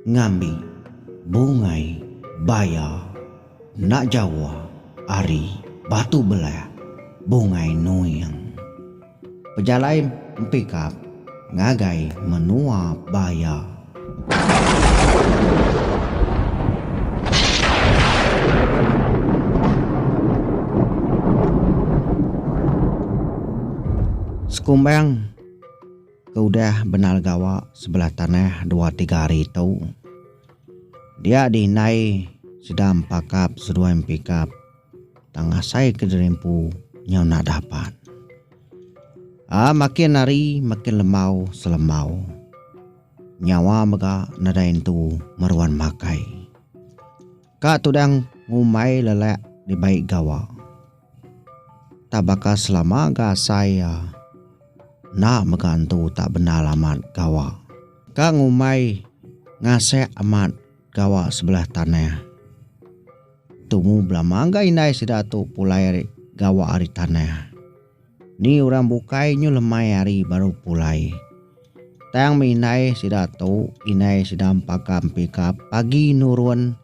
Ngambi, bungai, baya, enda jawa, ari, batu belah, bungai nuing. Pejalai empikap ngagai menua baya. Sekumbang ke udah bendar gawa sebelah tanah dua tiga hari tu dia diindai sida empakap seduai empikap. Tang asai ke diri empu nyau nadah pan. A makin hari makin lembau selembau. Nyawa mega nadai entu meruan makai. Ka tudang ngumbai lelak dibai gawa. Tak baka selama ga asai a enda mega entu tak bendar amat gawa. Ka ngumbai ngasek amat Gawa sebelah tanah. Tumu belama ga indai sida tu pulai ari gawa ari tanah. Ni orang bukai nyu lemai ari baru pulai. Tang meh indai sida tu indai sida empaga empika pagi nurun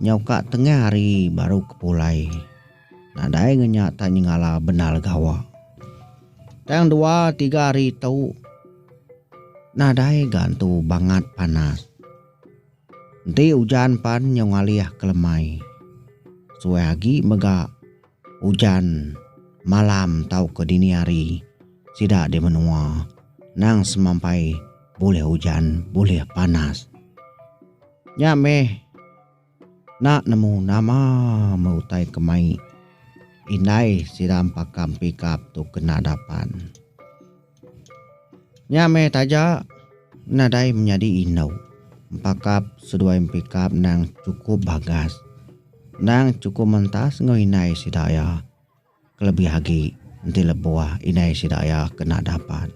nyau ka tengah hari baru ke pulai. Nadai ngenya tang nyengala bendar gawa. Tang dua tiga hari tu nadai gantu bangat panas. Enti ujan pan nyau ngalih ke lemai. Suai agi mega ujan malam tauka dini hari sida di menua nang semampai bulih ujan bulih panas. Nya meh. Enda nemu nama meh utai ke mai indai sida empaka pikap tu kena dapan. Nya meh taja nadai menyadi indu empakap seduai empikap endang chukup bagas endang chukup mentas enggau indai sida iya. kelebih agi enti lebuh indai sida iya kena dapat.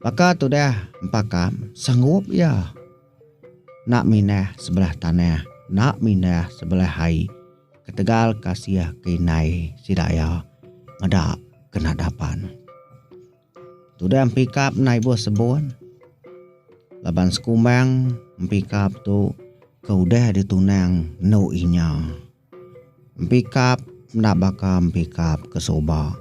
Baka tudah empa kam, sanggup iya enda mindah sebelah tanah, enda mindah sebelah ai ketegal kasih ke indai sida iya meda kena dapat. Tudah empi kap enda ibuh sebon laban sekumbang empi kap tu ke udah ditunang endu inya. Empikap enda baka empikap ke suba.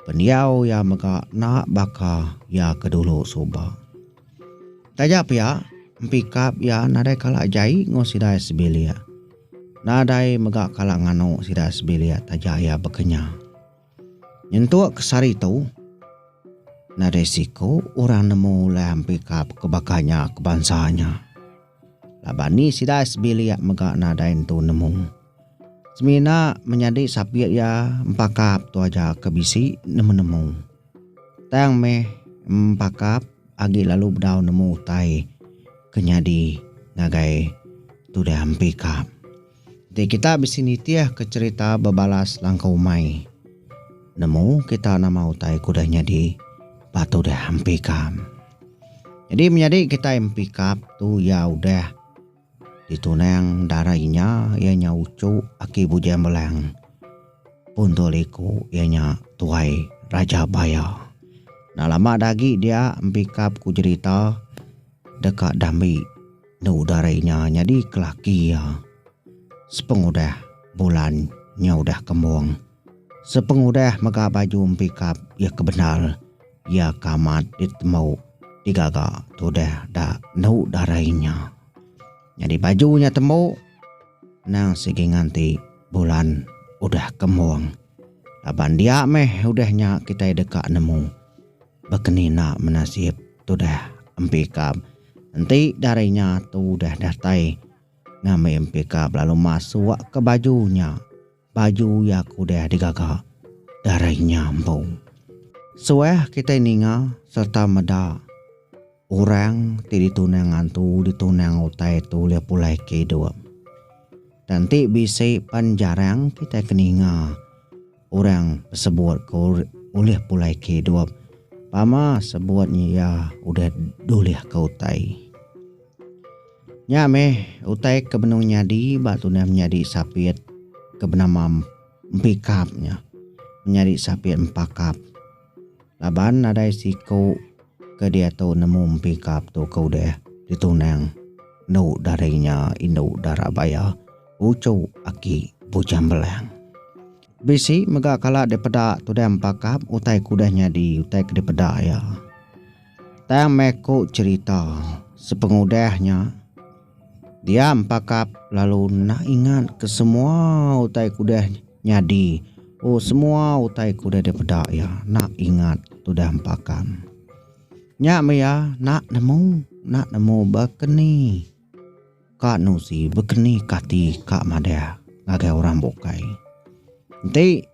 Pendiau iya mega enda baka iya ke dulu suba. Taja pia, empikap iya nadai kala jai enggau sida sebilik. Nadai mega kala nganu sida sebilik taja iya bekenyah. Nyentuk kes ari tu, nadai siku orang nemu ulih ampikap ke baka nya ke bansa nya. Laban ni sida sebilik mega nadai nentu nemu. Semina menyadi sapit iya empakap tu aja ke bisi nemu-nemu. Tang meh empakap agi lalu bedau nemu utai ke nyadi ngagai tudah empikap. Enti kita bisi nitihka cherita bebalas langkau umai, nemu kita nama utai ke udah nyadi ba tu udah empi kam. Nyadi menyadi kitai empi kap tu iya udah ditunang dara inya iya nya uchu aki Bujang Belang pun tu liku iya nya Tuai Raja Baya. Enda lama dah agi dia empi kap ku cherita deka dambi. Enda udah ari nya nyadi ke laki iya. Sepengudah bulan nya udah kembung. Sepengudah mega baju empikap iya ke bendar, iya ke amat ditemu digaga tudah da enda udah ari nya. Nyadi baju nya tembu nang sigi nganti bulan udah kembung. Laban dia meh udah nya kitai deka nemu. Baka ni enda menasib tudah empi kab enti dari nya tu udah datai ngambi empi kab lalu masuk ke baju nya baju iya ke udah digaga dari nya empu. Suah kitai ninga sereta meda orang ti ditunang ngantu ditunang utai tu ulih pulai ke idup. Tang ti bisi pan jarang kitai ke ninga. Orang sebut ke ulih pulai ke idup, pama sebut nya iya udah dulih ke utai. Nya meh utai ke benung nyadi ba tundah menyadi sapit ke benama empikap nya, menyadi sapit empakap. Laban nadai siku ke diatu nemu empi kap tu ke udah ditunang enu dari nya indu dara baya uchu aki Bujang Belang. Bisi mega kala dipeda tudah empa kap utai ke udah nyadi utai ke dipeda iya. Tang meh ku cherita sepengudah nya. Dia empakap lalu enda ingat ke semua utai ke udah nyadi. Oh semua utai ke udah dipeda iya enda ingat tudah empakam. Nya meh iya enda nemu enda nemu baka ni ka nuzi baka ni ka ati ka madah ngagai orang bukai. Enti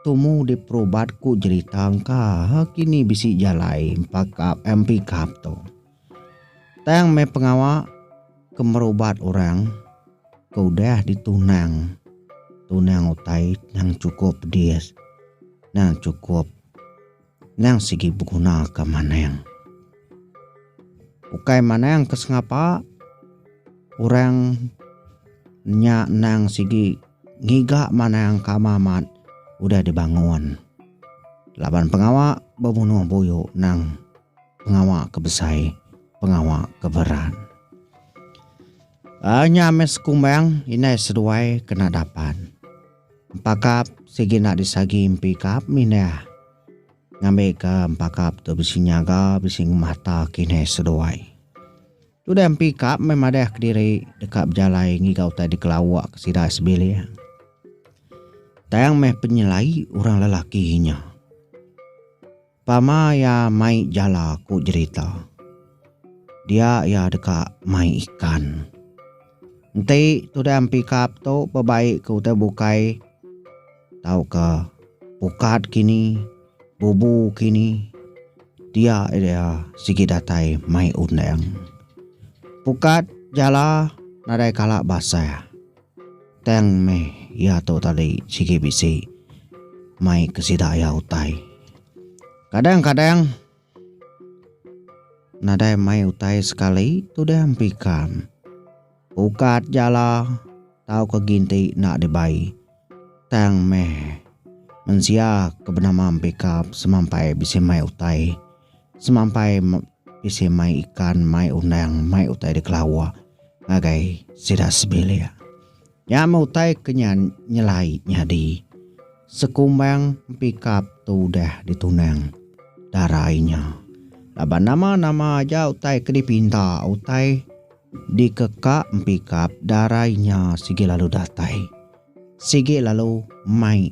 tumu diperubat ku jerita engka ha kini bisi jalai empakap empikap tu. Tang meh pengawa ke merubat orang ke udah ditunang tunang utai nang cukup pedis, nang cukup nang sigi beguna ke manang. Ukai manang ke sengapa orang nya nang sigi ngiga manang ke ama amat udah dibangun laban pengawa bebunuh buyu nang pengawa ke besai pengawa ke beran. Uh, nya amai sekumbang inai seduai kena dapan. Empakap sigi nak disagi empi kap mindah. Ngambi ke empakap tu bisi nyaga, bisi ngemata ke inai seduai. Tudah empi kap mai madah ke diri deka bejalai ngiga utai dikelawa ke sida sebilik. Tang meh penyelai orang lelaki nya. Pama iya mai jala ku jerita. Dia iya deka mai ikan. Enti tudah empikap tu bebai ke utai bukai tauka ukat kini, bubu kini, dia iya sigi datai mai undang. Pukat jala nadai kala basah. Tang meh iya tu tadi sigi bisi mai ke sida iya utai. Kadang-kadang nadai mai utai sekali tudah empikam. Ukat jala tauka ginti enda dibai. Tang meh mensia ke benama empikam semampai bisi mai utai. Semampai bisi mai ikan, mai undang, mai utai dikelawa ngagai sida sebilik. Nya meh utai ke nyelai nyadi sekumbang empikap ke udah ditunang dara inya. Laban nama-nama aja utai ke dipinta, utai dikeka empikap dara inya sigi lalu datai, sigi lalu mai.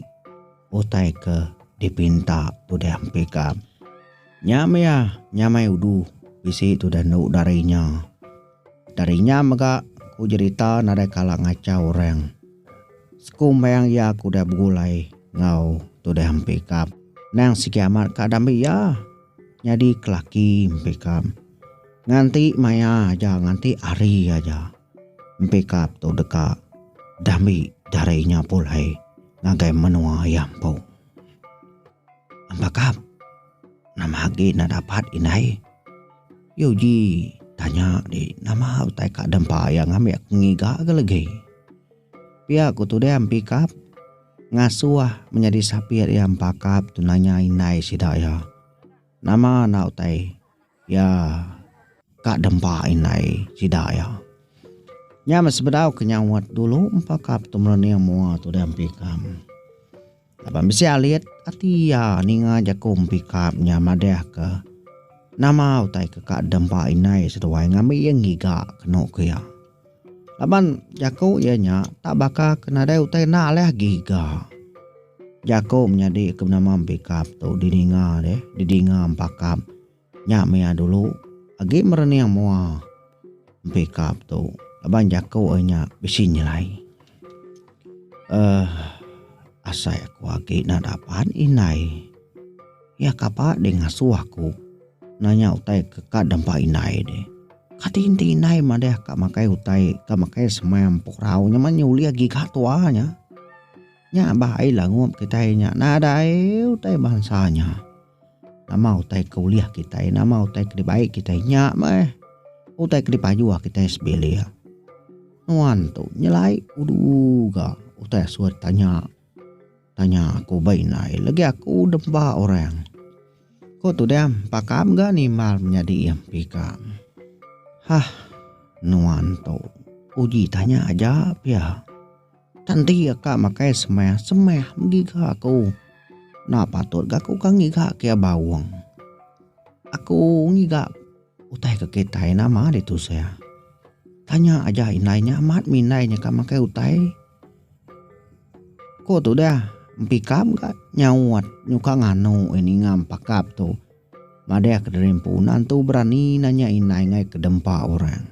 utai ke dipinta tudah empi ka. Nya mia nyamai udu bisi tudah endu dari nya. Dari nya mega ku jerita nadai kala ngachau orang. Sekumbang iya ke udah begulai enggau tudah empi ka. Nang sigi amat ka dambi iya nyadi kelaki empi ka. Nganti maya aja nganti hari aja empi ka tu deka dambi dari nya pulai. ngagai menua iya empu. Embakap, nama agi enda dapat indai? Yu Ji tanya di nama utai ka dempa iya ngambi aku ngiga ga legi. Pia ku Tudang Pikap ngasuh menyadi sapit iya embakap tu nanya indai sida iya. Nama enda utai iya ka dempa indai sida iya. Nya meh sebedau ke nyauat dulu empa ka Petum Rening mua tudah empikam. Laban bisi alit ati iya ninga jaku empikam nya madahka nama utai ke ka dempa indai seduai ngambi iya ngiga kenu ku iya. Laban jaku iya nya tak baka ke nadai utai enda alih agi ga. Jaku menyadi ke nama pikap tu didinga deh, didinga empakap. Nya mih dulu agi merening mua pikap tu laban jaku iya nya bisi nyelai uhh asai aku agi enda dapat indai. Iya kapa deh ngasuh aku nanya utai ke ka dempa indai deh. Kati enti indai madah ka makai utai ka makai sema empurau nyema nya ulih giga tua nya. Nya bah ai langup kitai nya nadai utai bansa nya. Nama utai ke ulih kitai nama utai ke dibai kitai nya meh utai ke dipajuh kitai sebilik. Nuan tu nyelai udu ga utai asur tanya. Tanya aku ba indai legi aku nemba orang. Ku Tudang pakam ga nimbal menyadi MP ka. Hah nuan tu uji tanya aja pia. Tan ti ka makai semeh semeh mengiga aku. Enda patut ga aku ka ngiga kia baung. Aku ngiga. Utai ke kitai nama ditu Sya? Tanya aja indai nya amat mih indai nyeka makai utai. Ko tudah empika mega nyaut nyuka nganu eh ninga empakap tu. Madah ke diri empu nan tu berani nanya indai ngai ke dempa orang.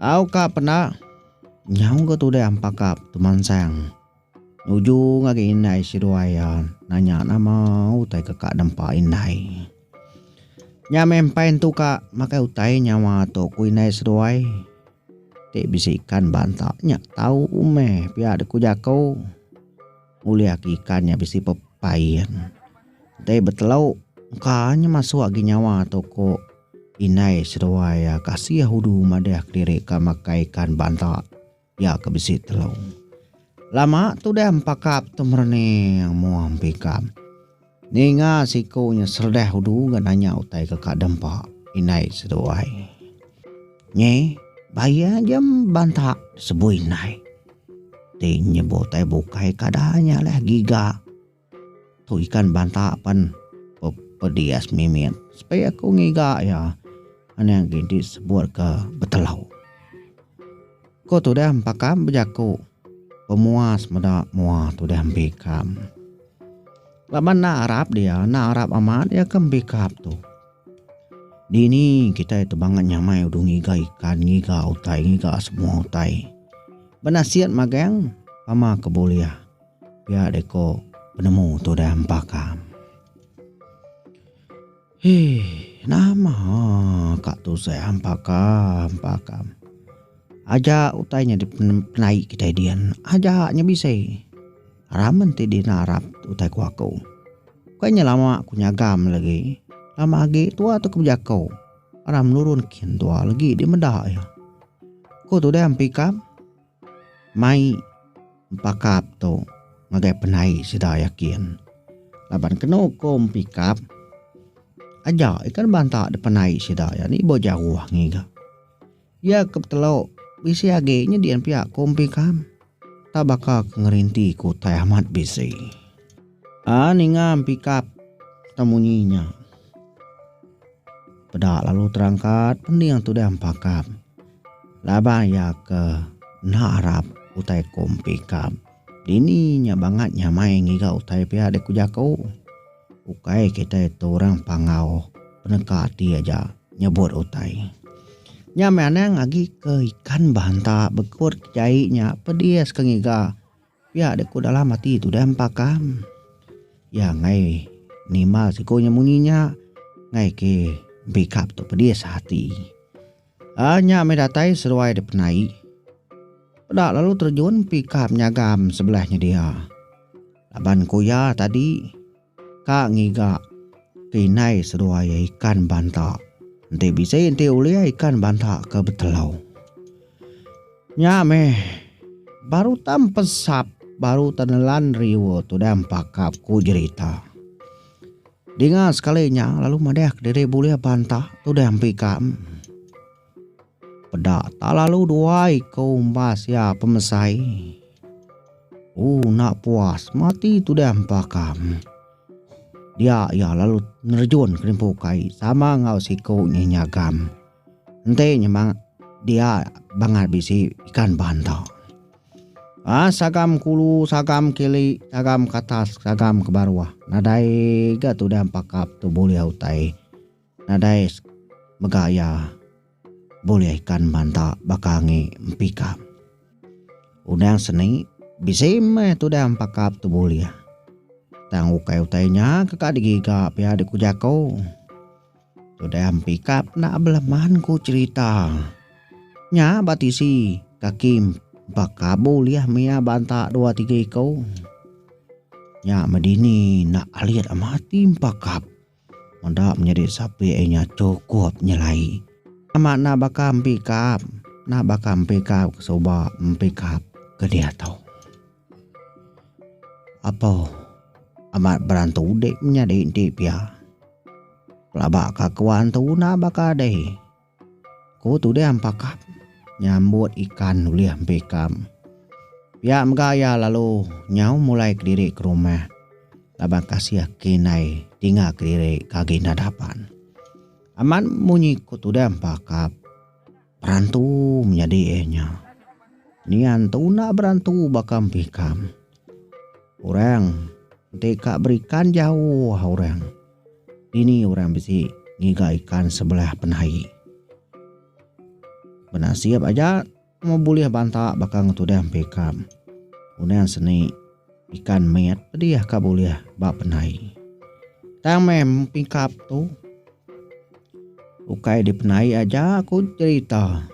Au ka penda nyau ga tudah empakap tu mansang Nujung agi indai seduai iya nanya nama utai ke ka nempa indai. Nya meh empai entu ka makai utai nyawa tu ku indai seduai ti bisi ikan ba entak nya tau meh pia dek ku jaku ngulih agi ikan nya bisi pepain dei betelu engka nya masuk agi nyawa tu ku indai seduai iya kasih udu madah diri ka makai ikan ba entak. Iya ke bisi telu. Lama tu deh empakap tu merening mua empikam. Ninga siku nya seredah udu ga nanya utai ke ka dempa indai seduai. Nyi bayi aja banta sebui indai. Ti nyebu utai bukai kada nya leh giga. Tu ikan banta pen pedias mimit sepi aku ngiga iya anang agi enti sebut ke betelau. Ko tudah empa kam bejaku pemuas meda mua tudah embi kam. Laban enda arap dia enda arap amat iya ke embi kap tu. Dini kitai tu bangat nyamai udu ngiga ikan ngiga utai ngiga semua utai. Banasit magang pama ke bulih. Pia deh ko penemu tu deh empa kam. Hii nama ka tu seh empa kam empa kam. Aja utai nyadi penai kitai dian aja nya bisi. Ramen ti di narap utai ku aku. Bukai nya lama ku nyaga meh lagi lama agi tua tu ke bejako ra menurun kin tua lagi di meda iya. Ko tu deh empi kam. Mai empakap tu ngagai penai sida yakin laban kenu ko empikap aja iko deba entak da penai sida iya ni ibuh jauh ngiga iya ke betelu bisi agi nyadi yen piak ko empikap enta baka ko ngerenti ko utai amat bisi a ninga empikap ita munyi nya. Peda lalu terangkat pening tu deh empakap. Laban iya ke enda arap utai ku empikap. Dini nya bangat nyamai ngiga utai pia deh ku jaku. Ukai kitai tu orang pangau peneka ati aja nyebut utai. Nya meh anang agi ke ikan banta bekut ke jai nya pedis ke ngiga. Pia dek ku dalam ati tudah empakam iya enggai nimbal siku nya munyi nya enggai ke empikap tu pedis ati. Aa nya meh datai seruai dipenai peda lalu terjun empikap nyagam sebelah nyedia laban ku iya tadi Ka ngiga ke indai seduai iya ikan banta. Enti bisi enti ulih ikan banta ke betelau. Nya meh baru tam pensap baru tan nelan riu tudah empakap ku jerita. Dinga sekali nya lalu madah ke diri bulih banta tudah empikam. Peda tak lalu duai ke umbas iya pemesai. Uh nak puas mati tudah empakam. Dia iya lalu nerejun ke limpu kai sama enggau siko nya nyagam. Enti nyemang dia bangat bisi ikan banta. Ah sagam kulu sagam kili sagam katas sagam ke baruh nadai ga tudah empakap tu bulih utai. Nadai mega iya bulih kan banta baka angi empi kap. Undang seni bisi meh tudang empa kap tu bulih. Tang ukai utai nya ke ka digiga pia dek ku jaku. Tudang empi kap enda beleman ku cerita. Nya ba tisi kaki empa kap bulih mia banta dua tiga iku. Nya meh dini enda alit amat ti empa kap. Meda menyadi sapi ai nya chukup nyelai. Nama enda baka empikap. Enda baka empikap ke suba empikap ke diatu. Apo amat beran tu udi menyadi enti pia. Pelaba ka kewan tu enda baka dei. Ku Tudeh Ampakap nyambut ikan ulih empi ikam. Pia mega iya lalu nyau mulai kediri ke rumah laban kasih ke indai ti enggau kediri ke agi enda dapan. Amat munyi ku Tudeh Ampakap perantu menyadi iya nya. Nian tuna berantu baka empi ikam. Orang enti ka berikan jauh orang. Dini orang bisi ngiga ikan sebelah penai. Benasip aja temu bulih banta baka ngetudah empu ikam. Unan seni ikan mit pedih ka bulih ba penai. Tang meh empikap tu. Ukai di penai aja ku cerita.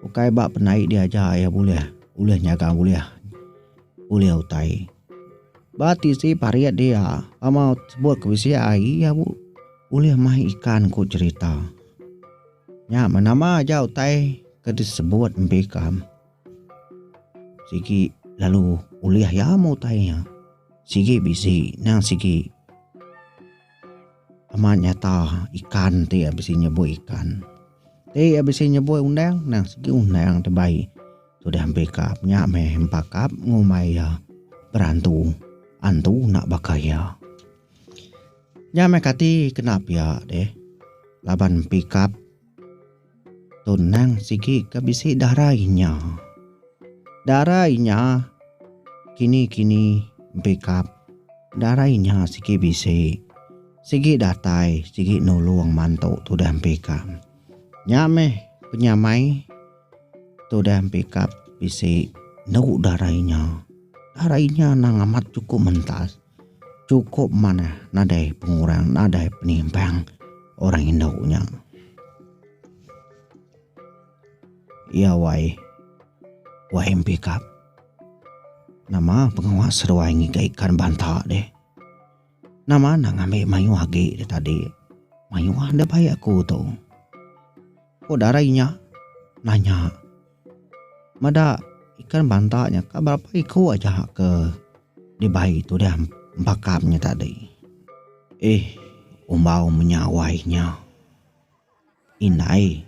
Ukai ba penai dia aja ia bulih ulih nyaga ulih ulih utai. Ba tisi parit dia ama sebut ke bisi ai ia ulih mai ikan ku cerita. Nya menama aja utai ke disebut empi ikam sigi lalu ulih ia meh utai nya sigi bisi nang sigi. Amat nyata ikan ti iya bisi nyeboi ikan. Ti iya bisi nyeboi undang nang sigi undang ti bai udah empi kap nya meh empa kap ngumbai iya berantu antu nak baka iya. Nya meh kati kena piak deh laban empi kap Tunang sigi ka bisi dara inya. Dara inya kini-kini pikap dara inya sigi bisi sigi datai sigi nulung mantu tudah mpika. Nya meh penyamai tudah mpikap bisi enu dara inya. Dara inya nang amat chukup mentas. Chukup manah nadai pengurang nadai penimbang orang indu nya. Iya wai wai mpikap nama pengawa seduai ngiga ikan banta deh. Nama enda ngambi mayuh agi deh tadi. Mayuh deh bai aku tu. Ku dara inya nanya. Meda ikan banta nya ka berapa iku aja ke dibai tudah empakam nya tadi. Eih umbau menyawai nya. Indai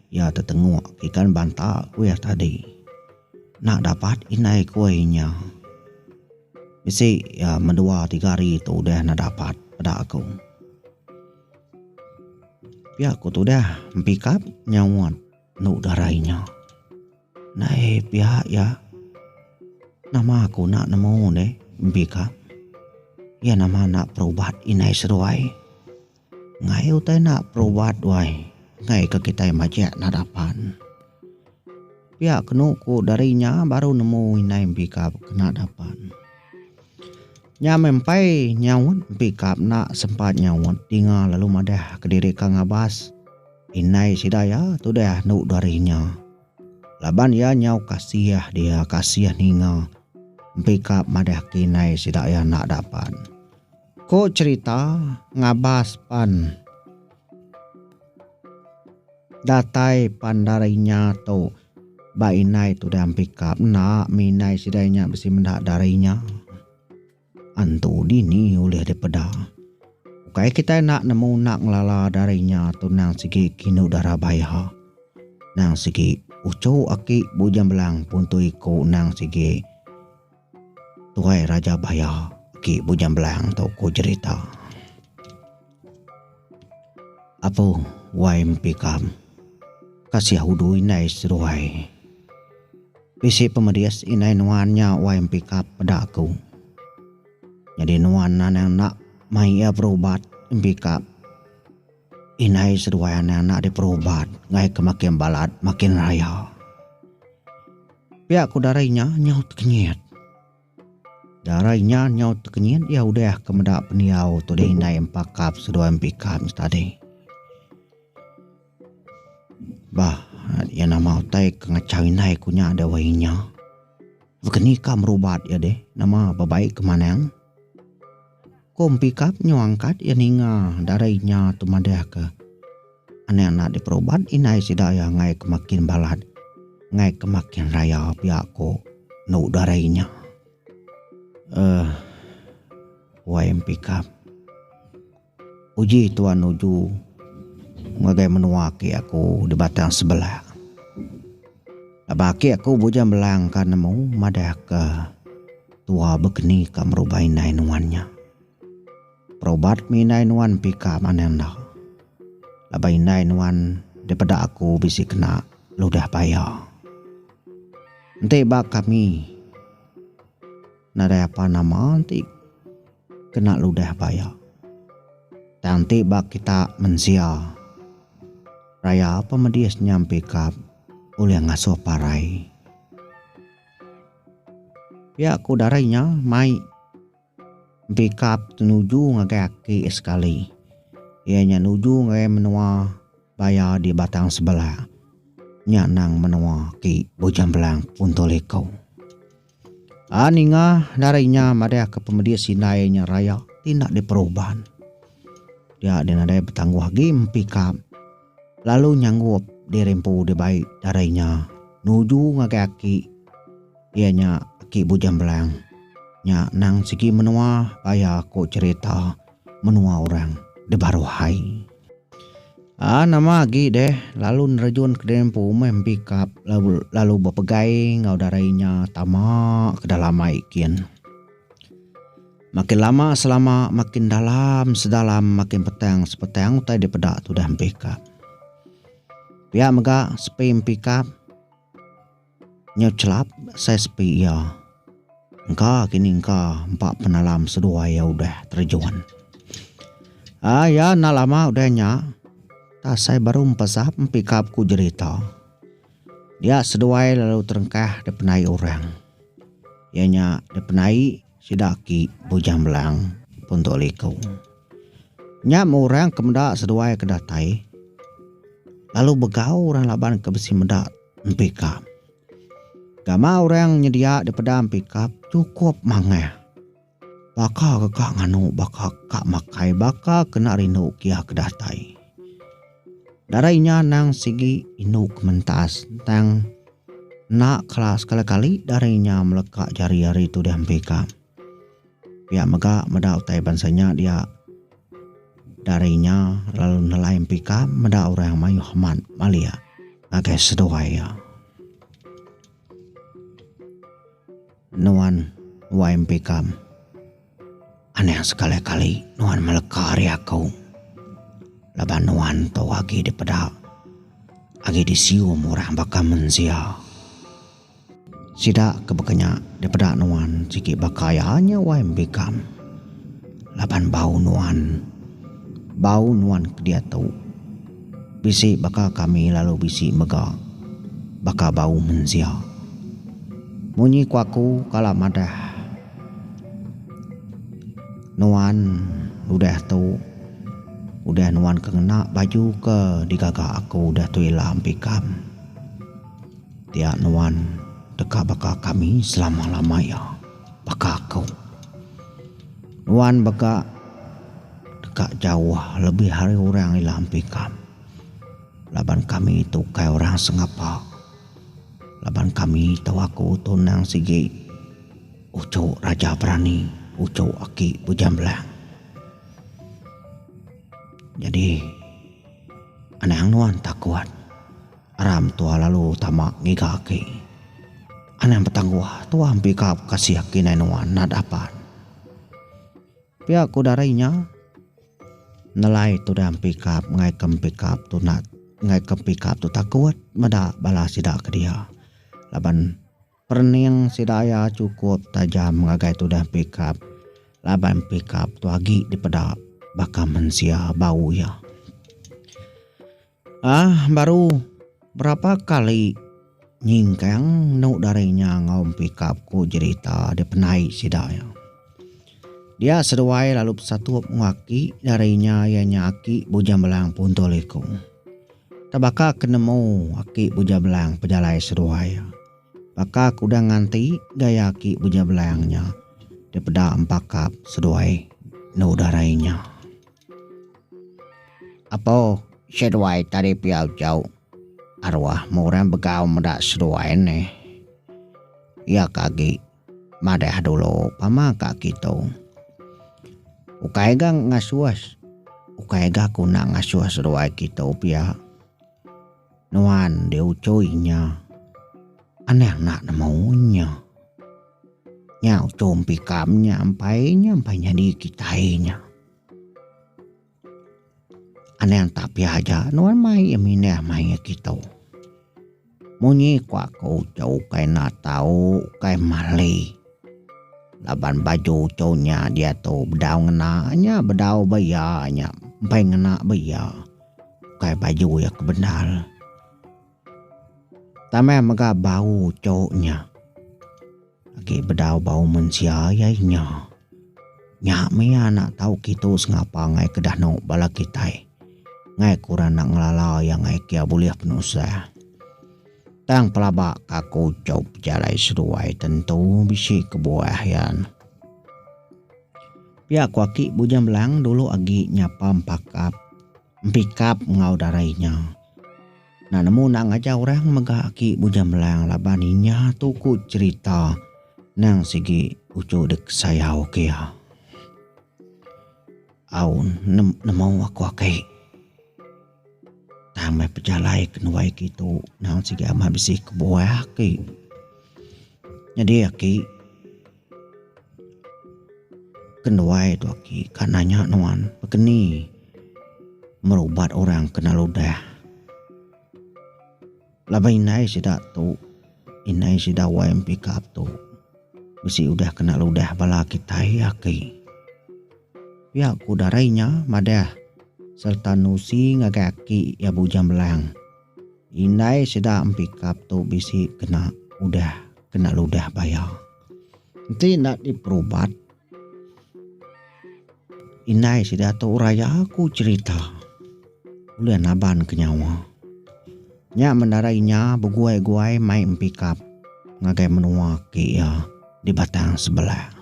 iya tetengok ke ikan banta ku iya tadi. Nak dapat indai ku inya. Bisi iya mendua tiga hari tu udah ne dapat peda aku. Pia ku tudah empikap nyauot. Enu darai nya. Nai pia iya. Nama aku enda nemu deh mbi ka. Iya nama enda perubat inai seduai. Ngai utai enda perubat duai ngai ka kitai majek nada pan. Pia kenu ku dari nya baru nemu inai mbi ka nada pan. Nya meh empai nyaut mbi ka enda sempat nyaut dinga lalu madah kediri ka ngabas. Indai sida iya tudah andu dari nya. Laban iya nyau kasih dia kasih ninga empi ka madahka indai sida iya enda dapat. Ko cherita ngabas pan datai pan dari nya tu ba indai tudah empi ka enda mi indai sida iya nya bisi meda dari nya. Antu dini ulih dipeda? Ukai kitai enda nemu enda ngelala dari nya tu nang sigi kinu dara baya. Nang sigi uchu aki Bujang Belang puntui ku nang sigi tuai raja baya aki Bujang Belang tu ku jerita. Abu wai mpi kam. Kasih udu indai seduai. Bisi pemedis indai nuan nya wai mpi kap peda aku. Nyadi nuan anang enda mai iya berubat mpi kap. Indai seduai anang enda diperubat ngaika makin balat makin raya. Pia ku dara inya nyaut kenyit. Darai nya nyau tekenyit iya udah ke meda pendiau tu deh indai empa kap seduai empi kap nya tadi. Bah iya nama utai ke ngachau indai ku nya deh wai inya. Baka ni ka berubat iya deh nama bebaik ke manang. Ku Empikap nyau angkat iya ninga darai nya tu madahka, Anak enda diperubat indai sida iya ngaika makin balat, ngaika makin raya pia ku enu darai nya. Uhh wai Empikap. Uji tuan nuju ngagai menua aki aku di Batang Sebelah. Laban aki aku bujang belangka nemu madahka. Tua begeni ka merubai indai nuan nya. Perobat mih indai nuan empika manang enda. Laban indai nuan dipeda aku bisi kena ludah baya. Enti ba kami nadai apa nama enti kena ludah baya. Tang enti ba kita mensia raya pemedis nya empika ulih ngasuh parai. Pia ku Darai nya mai Bikap tu nuju ngagai aki sekali iya nya nuju ngagai menua baya di Batang Sebelah nya nang menua aki Bujang Belang Punto Liko. A ninga Darai nya madahka pemedis indai nya raya ti enda diperuban dia nadai betangguh agi mempikap. lalu nyanggup diri empu dibai darai nya nuju ngagai aki iya nya Aki Bujang Belang. Nya nang sigi menua baya ku cherita menua orang di baruh ai. Aa nama agi deh lalu nerejun ke diri empu meh empikap lalu bepegai enggau darai nya tama ke dalam ai kin. Makin lama selama makin dalam sedalam makin petang sepetang utai dipeda tudah empikap. Pia mega sepi empikap nyau chelap sai sepi iya. Engka kini engka empa penalam seduai iya udah terjun. Ah iya enda lama udah nya tak sai baru empesap empikap ku jerita. Dia seduai lalu terengkah dipenai orang. Iya nya dipenai Sida aki Bujang Belang pun tu liku. Nya meh orang ke meda seduai ke datai lalu begau orang laban ke bisi meda empikap. Gama orang nyedia dipeda empikap chukup mangah. Baka ke ka nganu baka ka makai baka kena rindu kia ke datai. Darai nya anang sigi indu ke mentas tang enda kala sekali kali darai nya meleka jari ari tu diampi ka. Pia mega meda utai bansa nya dia darai nya lalu nelai empi ka meda orang mayuh amat malia ngagai seduai iya. Nuan YMP Kam. Anih sekali kali nuan meleka ari aku. Laban nuan tu agi dipeda agi disium orang baka mensia. Sida ke baka nya dipeda nuan sigi baka iya nya YMP Kam. Laban bau nuan bau nuan ke diatu. Bisi baka kami lalu bisi mega baka bau mensia. Munyi ku aku kala madah nuan udah tu udah nuan ke ngena baju ke digaga aku udah tu ila empikam. Dia nuan deka baka kami selama-lama iya. Baka aku. Nuan baka deka jauh lebih ari orang ila ampi ikam. Laban kami tu ukai orang sengapa. Laban kami tau aku tu endang sigi uchu raja berani, uchu aki Bujang Belang. Nyadi anang nuan takut. Ara mentua lalu tama ngiga aki. Anang betangguh tua empi ka bekasih aki nai nuan nat apan. Pia ku dara inya. Nelai tudah empikap ngaika empikap tu nat ngaika empikap tu takut meda bala sida ke dia laban perening sida iya chukup tajam ngagai tudah empikap laban empikap tu agi dipeda baka mensia bau iya. Ah baru berapa kali nyingkang enu dari nya enggau Empikap ku jerita dipenai sida iya. Dia seduai lalu besatup enggau aki dari nya iya nya aki Bujang Belang Punto Liku. Tang baka ke nemu aki Bujang Belang pejalai seduai iya. Baka ke udah nganti gaya aki Bujang Belang nya dipeda Empakap seduai enu dari nya. Apo seduai tadi pia ujau arwah mu orang begau meda seduai ne iya ka agi madah dulu pama ka kitu ukai ga ngasuh ukai ga guna ngasuh seduai kitu pia nuan diuchoi nya anang enda nemu nya nya uchu empikam nya empai nya empai nyadi kitai nya. Anang tak pia aja nuan mai iya minah mai ngan kita. Munyi ku aku uchau ukai enda tau ukai mali laban baju uchu nya diatu bedau ngena nya bedau ba iya nya empai ngena ba iya ukai baju iya ke bendar. Tambah mega bau uchu nya. Agi bedau bau mensia iya inya. Nya mih anak tau kitu sengapa ngai ke danu bala kitai. Ngai ku ra enda ngelala iya ngai kia bulih penusah. Tang pelaba ka aku chop bejalai seduai tentu bisi kebuah iya. Pia ku aki Bujang Belang dulu agi nyapa empakap. Empikap enggau darai inya. Enda nemu enda ngajar orang mega aki Bujang Melang laban inya tu ku cerita nang sigi uchu dek sayau ke iya. Au nemu aku ake. Tang meh pejalai ke nuai ke itu nang sigi amat bisi kebuah aki. Nyadi aki. Kenuai tu aki ka nanya nuan begeni merubat orang kena ludah. Laban indai sida tu indai sida YMPK tu bisi udah kena ludah bala kitai aki. Pia ku darai nya madah sereta nusi ngagai aki iya Bujang Belang. Indai sida empikap tu bisi kena udah kena ludah baya. Enti enda diperubat indai sida tu urai jaku cherita ulih naban ke nyawa. Nya mendarai inya beguai-guai mai empikap ngagai menua ke iya di batang sebelah.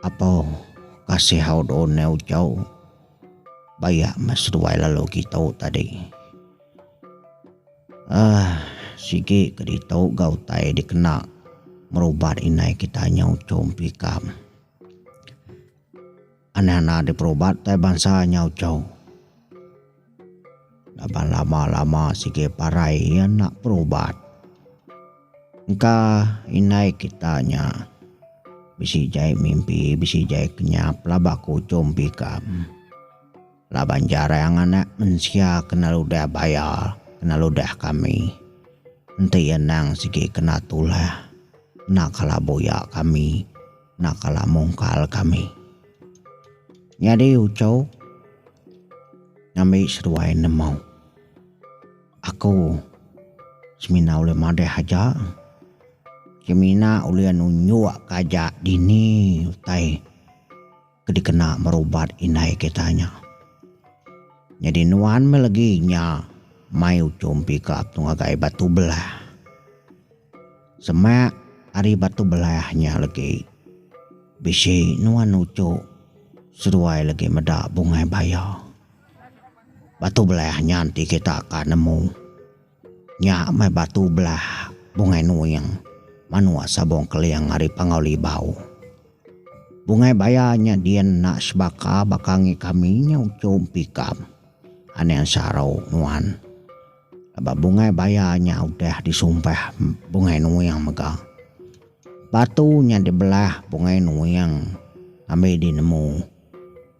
Apau kasih au do ne ujau bayak meh seduai lalu gitu tadi ah sigi ke ditu ga utai dikena berubat inai kita nyau chom pikam anang anang diperubat tai bansa nyau chom. Laban lama-lama sigi parai iya enda berubat. Engka indai kita nya bisi jai mimpi bisi jai kenyap laban ke ujung bikam. Laban jarang anak mensia ke nda ludah bayar ke nda ludah kami. Enti iya endang sigi kena tulah enda kala buyak kami. Enda kala mungkal kami. Nyadi ucau ngambi seduai nemu. Aku semina ulih madah aja. Semina ulih nunjuk ka aja dini utai ke dikena berubat indai kita nya. Nyadi nuan meh legi nya mai uchu mpi ka ngagai batu belah. Semak ari Batu Belah nya legi. Bisi nuan uchu seduai legi meda bungai baya. Batu Belah nya enti kita ka nemu. Nya meh Batu Belah Bungai Nuing manuk Sabong Keling ari Pangau Libau. Bungai baya nya din enda sebaka baka ngi kami nya uchu empikam. Aning saru nuan. Ba bungai baya nya udah disumpah bungai nuing mega. Batu nya dibelah bungai nuing ambi dinemu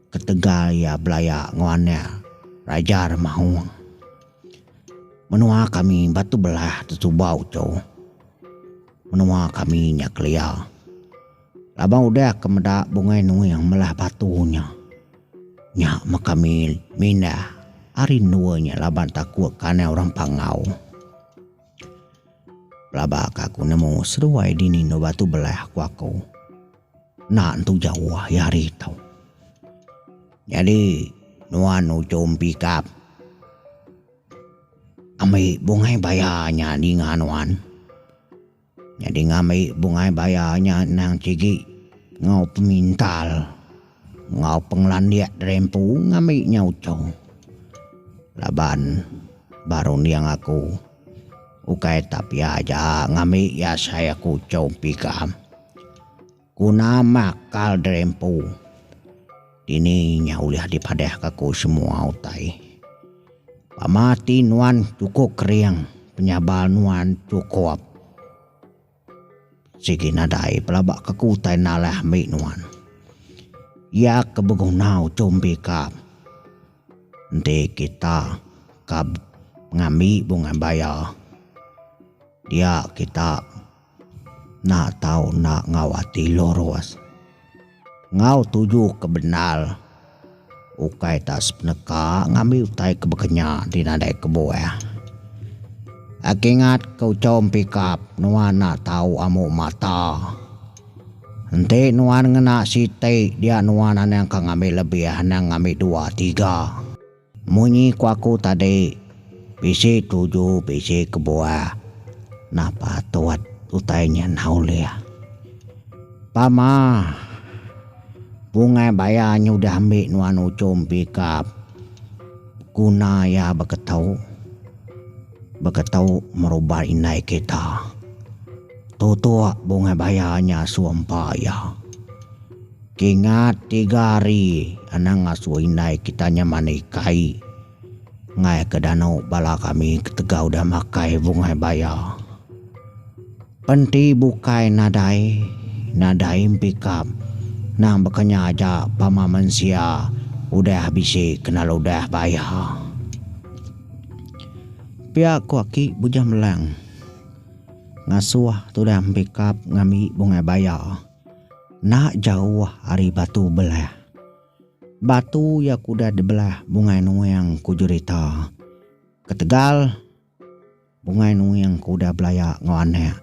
ketegal iya belaya enggau anak Raja Remaung. Menua kami batu belah tetuba uchu. Menua kami nya kelia. Laban udah ke meda bungai nuing melah batu nya. Nya meka mil mindah ari endua nya laban takut ke anai orang pangau. Pelaba ke aku nemu seduai dini endur batu belah ku aku. Enda entu jauh ari hari tu. Nyadi nuan ujung pigap ambi bungai baya nya ninga nuan. Nyadi ngambi bungai baya nya endang sigi enggau pemintal enggau pengelandik dari empu ngambi nya uchau. Laban ba runding aku ukai Tapia aja ngambi iya sai aku uchau empi ikam. Ku nama kal Drempu. Dini nya ulih dipadahka ku semua utai. Pama ti nuan chukup kering, penyabal nuan chukup. Sigi nadai pelaba ke ku utai nalah mbi nuan. Iya ke beguna uchum bikap. Enti kita ka ngambi bungai baya, dia kita Enda tau enda enggau ati lurus. Enggau tuju ke bendar. Ukai tak sepeneka ngambi utai ke baka nya ti nadai kebuah. Agi ngat ke uchom pikap nuan enda tau amu mata. Enti nuan ngena siti dia nuan anang ka ngambi lebih anang ngambi dua tiga. Munyi ku aku tadi, bisi tuju bisi kebuah. Nah patut utai nya enda ulih. Pama bungai baya nyudah ambi nuan Uchum pikap guna iya beketu beketu merubat indai kita. Tutup bungai baya nya asu empa iya. Kingat tiga hari anang asu indai kita nya mandi kai ngaih ke danu bala kami ketegal udah makai bungai baya. Penti bukai nadai nadai empikap nang baka nya aja pama mensia udah bisi kena ludah baya. Pia ku aki Bujang Melang. Ngasuh tudah empikap ngambi bungai baya enda jauh ari Batu Belah. Batu iya ke udah dibelah Bungai Nuing ku jerita. Ketegal Bungai Nuing ke udah belaya enggau anak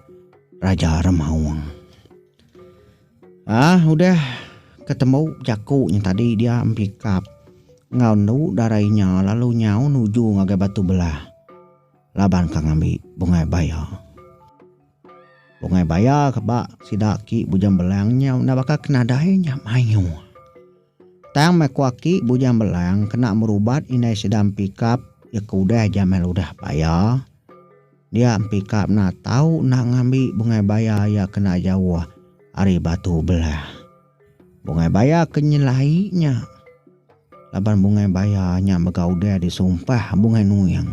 Raja Remaung. Ah udah ketemu jaku nya tadi dia empikap enggau endu dara inya lalu nyau nuju ngagai Batu Belah. Laban ka ngambi bungai baya. Bungai baya ka ba sida aki Bujang Belang nyau enda baka ke nadai nya mayuh. Tang meh ku aki Bujang Belang kena merubat indai sida empikap iya ke udah jamai ludah baya dia empikap enda tau enda ngambi bungai baya iya kena jauh ari Batu Belah. Bungai baya ke nyelai nya laban bungai baya nya mega udah disumpah Bungai Nuing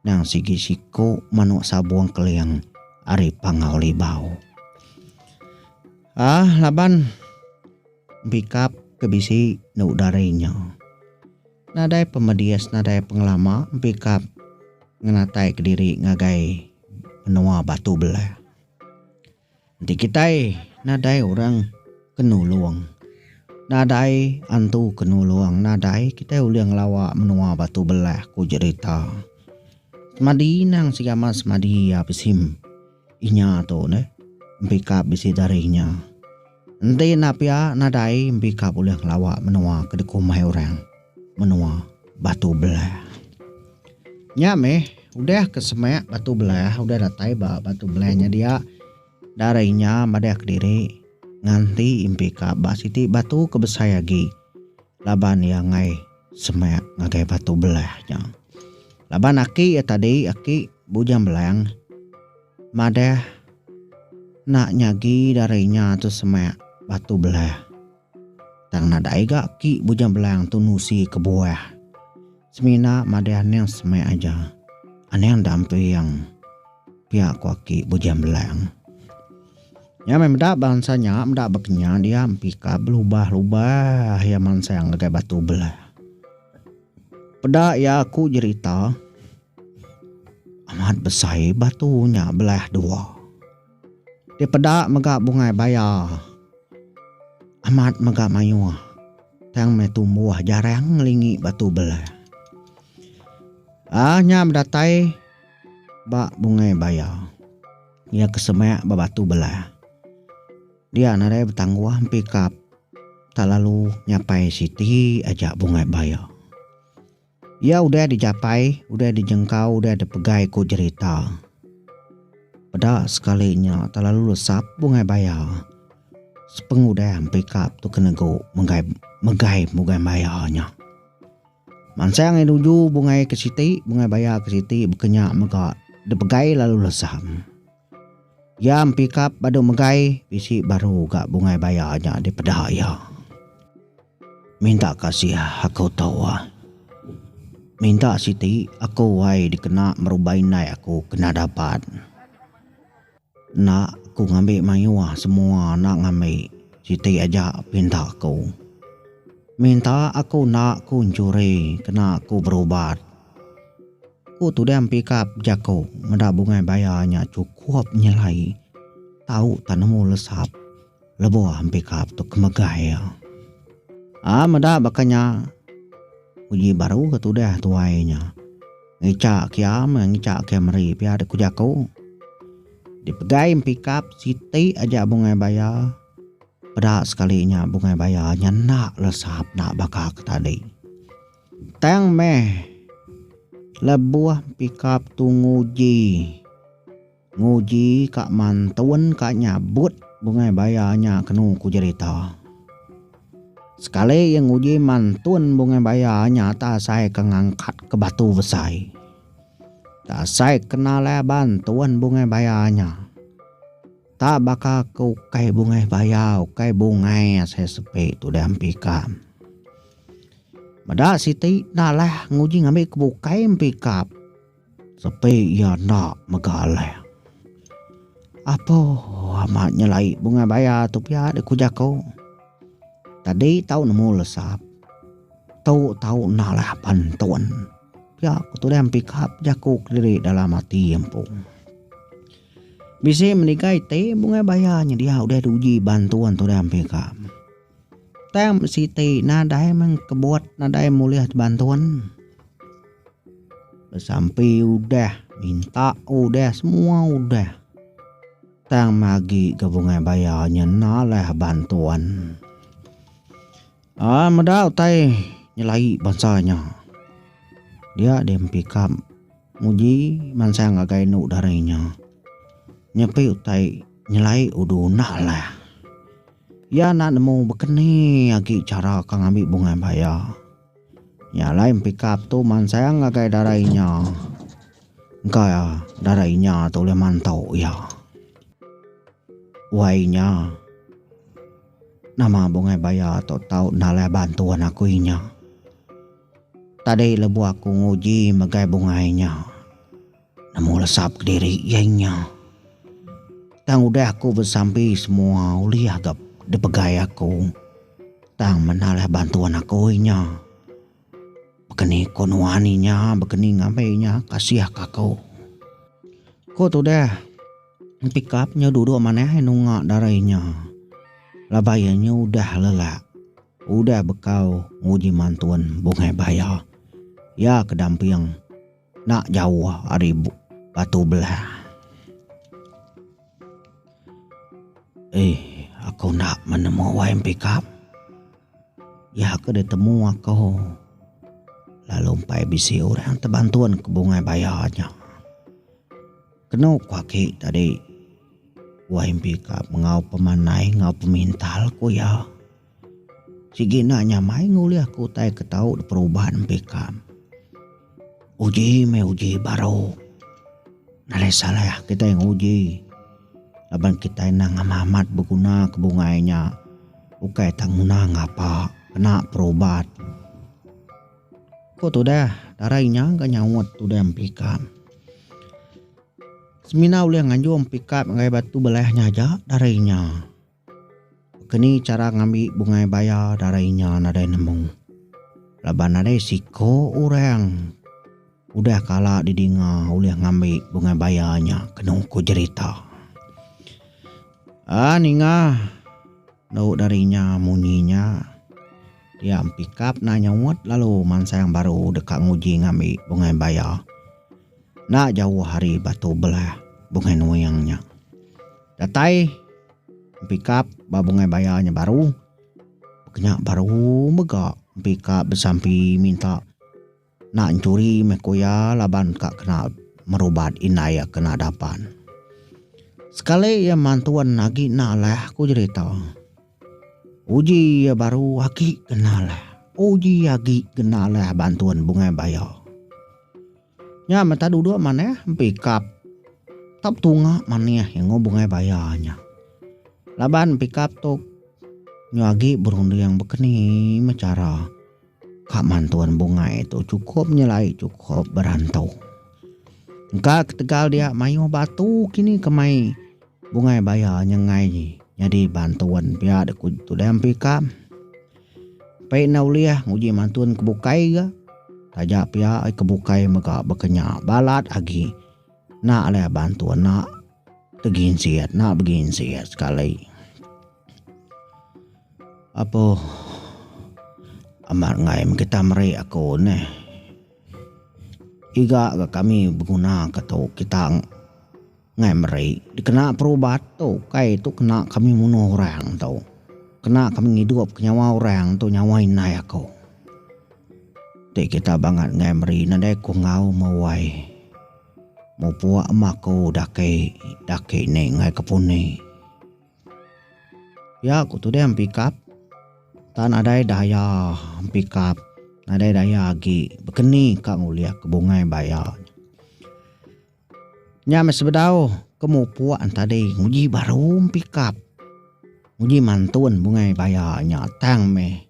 nang sigi siku manuk sabung keling ari Pangau Libau. Ah laban pikap ke bisi enda udah ari nya. Nadai pemedis nadai pengelama pikap ngenataika diri ngagai menua batu belah. Enti kitai nadai orang ke nulung, nadai antu ke nulung, nadai kitai ulih ngelawa menua Batu Belah, ku Jerita. Semadi inang segamat semadi iya bisi inya tu neh, empikap bisi dari inya. Enti enda pia nadai mpi ka bulih ngelawa menua ke dikumbai orang menua Batu Belah. Nya meh udah ke semak Batu Belah udah datai ba Batu Belah nya dia dari nya madah kediri nganti mpi ka ba siti batu ke besai agi laban iya enggai semak ngagai Batu Belah nya. Laban aki iya tadi aki Bujang Belang. Madah, Enda nyagi dari nya tu semak batu belah. Tang nadai ga ki Bujang Belang tu nusi kebuah. Semina madah Anang semak aja. Anang enda empeing, pia ku aki Bujang Belang. Nya meh meda bansa nya meda bekenyah dia empika belubah-lubah ia mansang ngagai batu belah. Peda iya aku jerita amat besai batu nya belah dua. Dipeda mega bungai baya amat mega mayuh tang meh tumbuh jarang ngelingi batu belah. Aah nya bedatai ba bungai baya. Iya ke semak ba batu belah. Dia nadai betangguh empi kap talalu nyapai siti aja bungai baya. Iya udah dijapai, udah dijengkau, udah dipegai ku jerita. Peda sekali nya talalu lesap bungai baya sepengudah empi kap tu ke negu menggai megai bungai baya nya. Mansang iya nuju bungai ke siti, bungai baya ke siti baka nya mega dipegai lalu lesap. Iya empikap badu megai bisi baru ga bungai baya nya dipeda iya. Minta kasih aku tu ai. Minta siti aku ai dikena meruba indai aku kena dapat. Enda aku ngambi mayuh semua enda ngambi siti aja pinta ku. Minta aku enda ku nyuri kena aku berubat. Ku Tudang Pikap jaku meda bungai bayar nya chukup nyelai tau tang nemu lesap lebuh Pikap tu ke megai iya. Ai meda baka nya uji baru ke tudah tuai nya. Ngicha kiam enggau ngicha kiam meri pia dek ku jaku. Dipegai Pikap siti aja bungai bayar peda sekali nya bungai bayar nya enda lesap enda baka ke tadi. Tang meh lebuh pikap tu nguji nguji ka mantun ka nyabut bungai baya nya kenu ku jerita. Sekali iya nguji mantun bungai baya nya tak asai ke ngangkat ke batu besai. Tak asai ke nalai bantun bungai baya nya. Tak baka ke ukai bungai baya ukai bungai asai sepi tudah empikam. Meda siti enda alah nguji ngambi ke bukai empikap sepi iya enda mega alah. Apuh amat nyelai bungai baya tu pia dek ku jaku. Tadi tau nemu lesap. Tu tau enda alah pan tun. Pia ku tudah empikap jaku kediri dalam ati empu. Bisi meniga iti bungai baya nyedia udah diuji ban tun tudah empikap. Tang siti nadai meh kebut nadai mulih tebantun besampi udah minta udah semua udah tang magi ga bungai baya nya enda lah bantun ai meda utai nyelai bansa nya dia deh empikap nguji mansang ngagai enu darinya nyepi utai nyelai udu enda lah. Iya enda nemu bekeni agi chara ke ngambi bungai baya. Nya alai Empikap tu mansang ngagai dara inya engka dara inya tu ulih mantu iya. Wai inya nama bungai baya tu tau enda alai bantuan aku inya. Tadi lebuh aku nguji megai bungai inya. Nemu lesa kediri iya nya. Tang udah aku besambi semua ulih agap dipegai aku. Tang menda lah bantuan aku inya. Bekeni ko nuan inya bekeni ngambi inya kasih ka aku. Ko tudah Pikap nya duduk manah nunga dara inya. Laban iya nya udah lelak. Udah bekau nguji mantun bungai baya. Iya ke damping. Enda jauh ari batu belah. Eh, aku enda menemu Wain Pikap. Iya ke ditemu aku lalu empai bisi orang ti bantun ke bungai bayar nya. Kenu ku aki tadi, Wain Pikap enggau pemandai enggau pemintal ku iya. Sigi enda nyamai ngulih ke utai ke tau diperuban empi kam. Uji meh uji baru. Nadai salah kitai nguji laban kitai enda ngambah amat beguna ke bungai nya ukai tang ngena ngapa kena perubat. Ku tudah, darai nya ga nyaut tudah empi kam. Semina ulih nganjung empi kam ngagai batu belah nya aja darai nya. Keni chara ngambi bungai baya darai nya nadai nemu. Laban nadai siko orang udah kala didinga ulih ngambi bungai baya nya kenu ku jerita. A ninga endo dari nya munyi nya dia empikap enda nyauot lalu mansang baru deka nguji ngambi bungai baya. Enda jauh ari Batu Belah Bungai Nuing nya. Datai empi kap ba bungai baya nya baru. Kenya baru mega empi kap besampi minta enda enchuri meh ku iya laban ka kena merubat indai iya kena dapan. Sekali iya mantun agi enda alih ku jerita. Uji iya baru agi ke enda alih. Uji agi ke enda alih bantun bungai baya. Nya meta duduk manah empi kap kap tunga manih enggau bungai baya nya. Laban empi kap tu nya agi berunding bekeni meh chara ka mantun bungai tu chukup nyelai chukup berantu. Engka ketegal dia mayuh batu kini kemai bungai baya nyengai nyadi bantun pia dikuk tudai empi kap. Pia enda ulih nguji mantun ke bukai ga. Taja pia ke bukai mega baka nya balat agi enda alai bantun enda teginsit enda beginsit sekali. Apoh amat angai mun kita meri aku neh iga ga kami begunaka tu kita. Ngai meri dikena perubat tu ukai tu kena kami munuh orang tu. Kena kami ngidupka nyawa orang tu nyawa indai aku. Ti kita bangat ngai meri nadai ku enggau mewai. Mupuk ama aku daki daki ni ngai ke puni. Ya ku tu deh empikap tan nadai daya empikap nadai daya agi bekeni ka ngulih aku bungai baya. Nya meh sebedau ke mupuk entadi nguji baru pikap nguji mantun bungai baya nya tang meh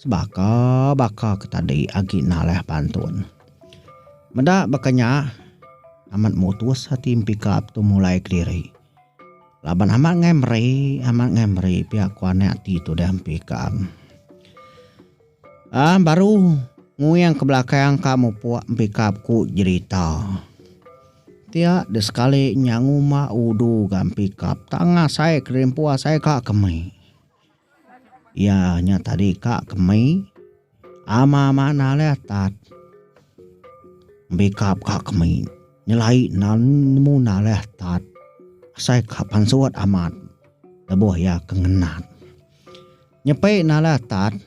sebaka baka ke tadi agi nalah pantun. Meda baka nya amat mutus ati pikap tu mulai kediri laban amat angai meri amat angai meri pia ku anak ti tudah mpi ka am. Aa baru nguing ke belakang ka mupuk empikap ku jerita. Tiak de sekali nya nguma udu ga empikap tang ngasai kerimpu asai ka kemi. Iya nya tadi ka kemi ama manah leh tat empikap ka kemi nyelai nan nemu na leh tat asai ka pansut amat lebuh iya ke ngenat. Nyepai nala tan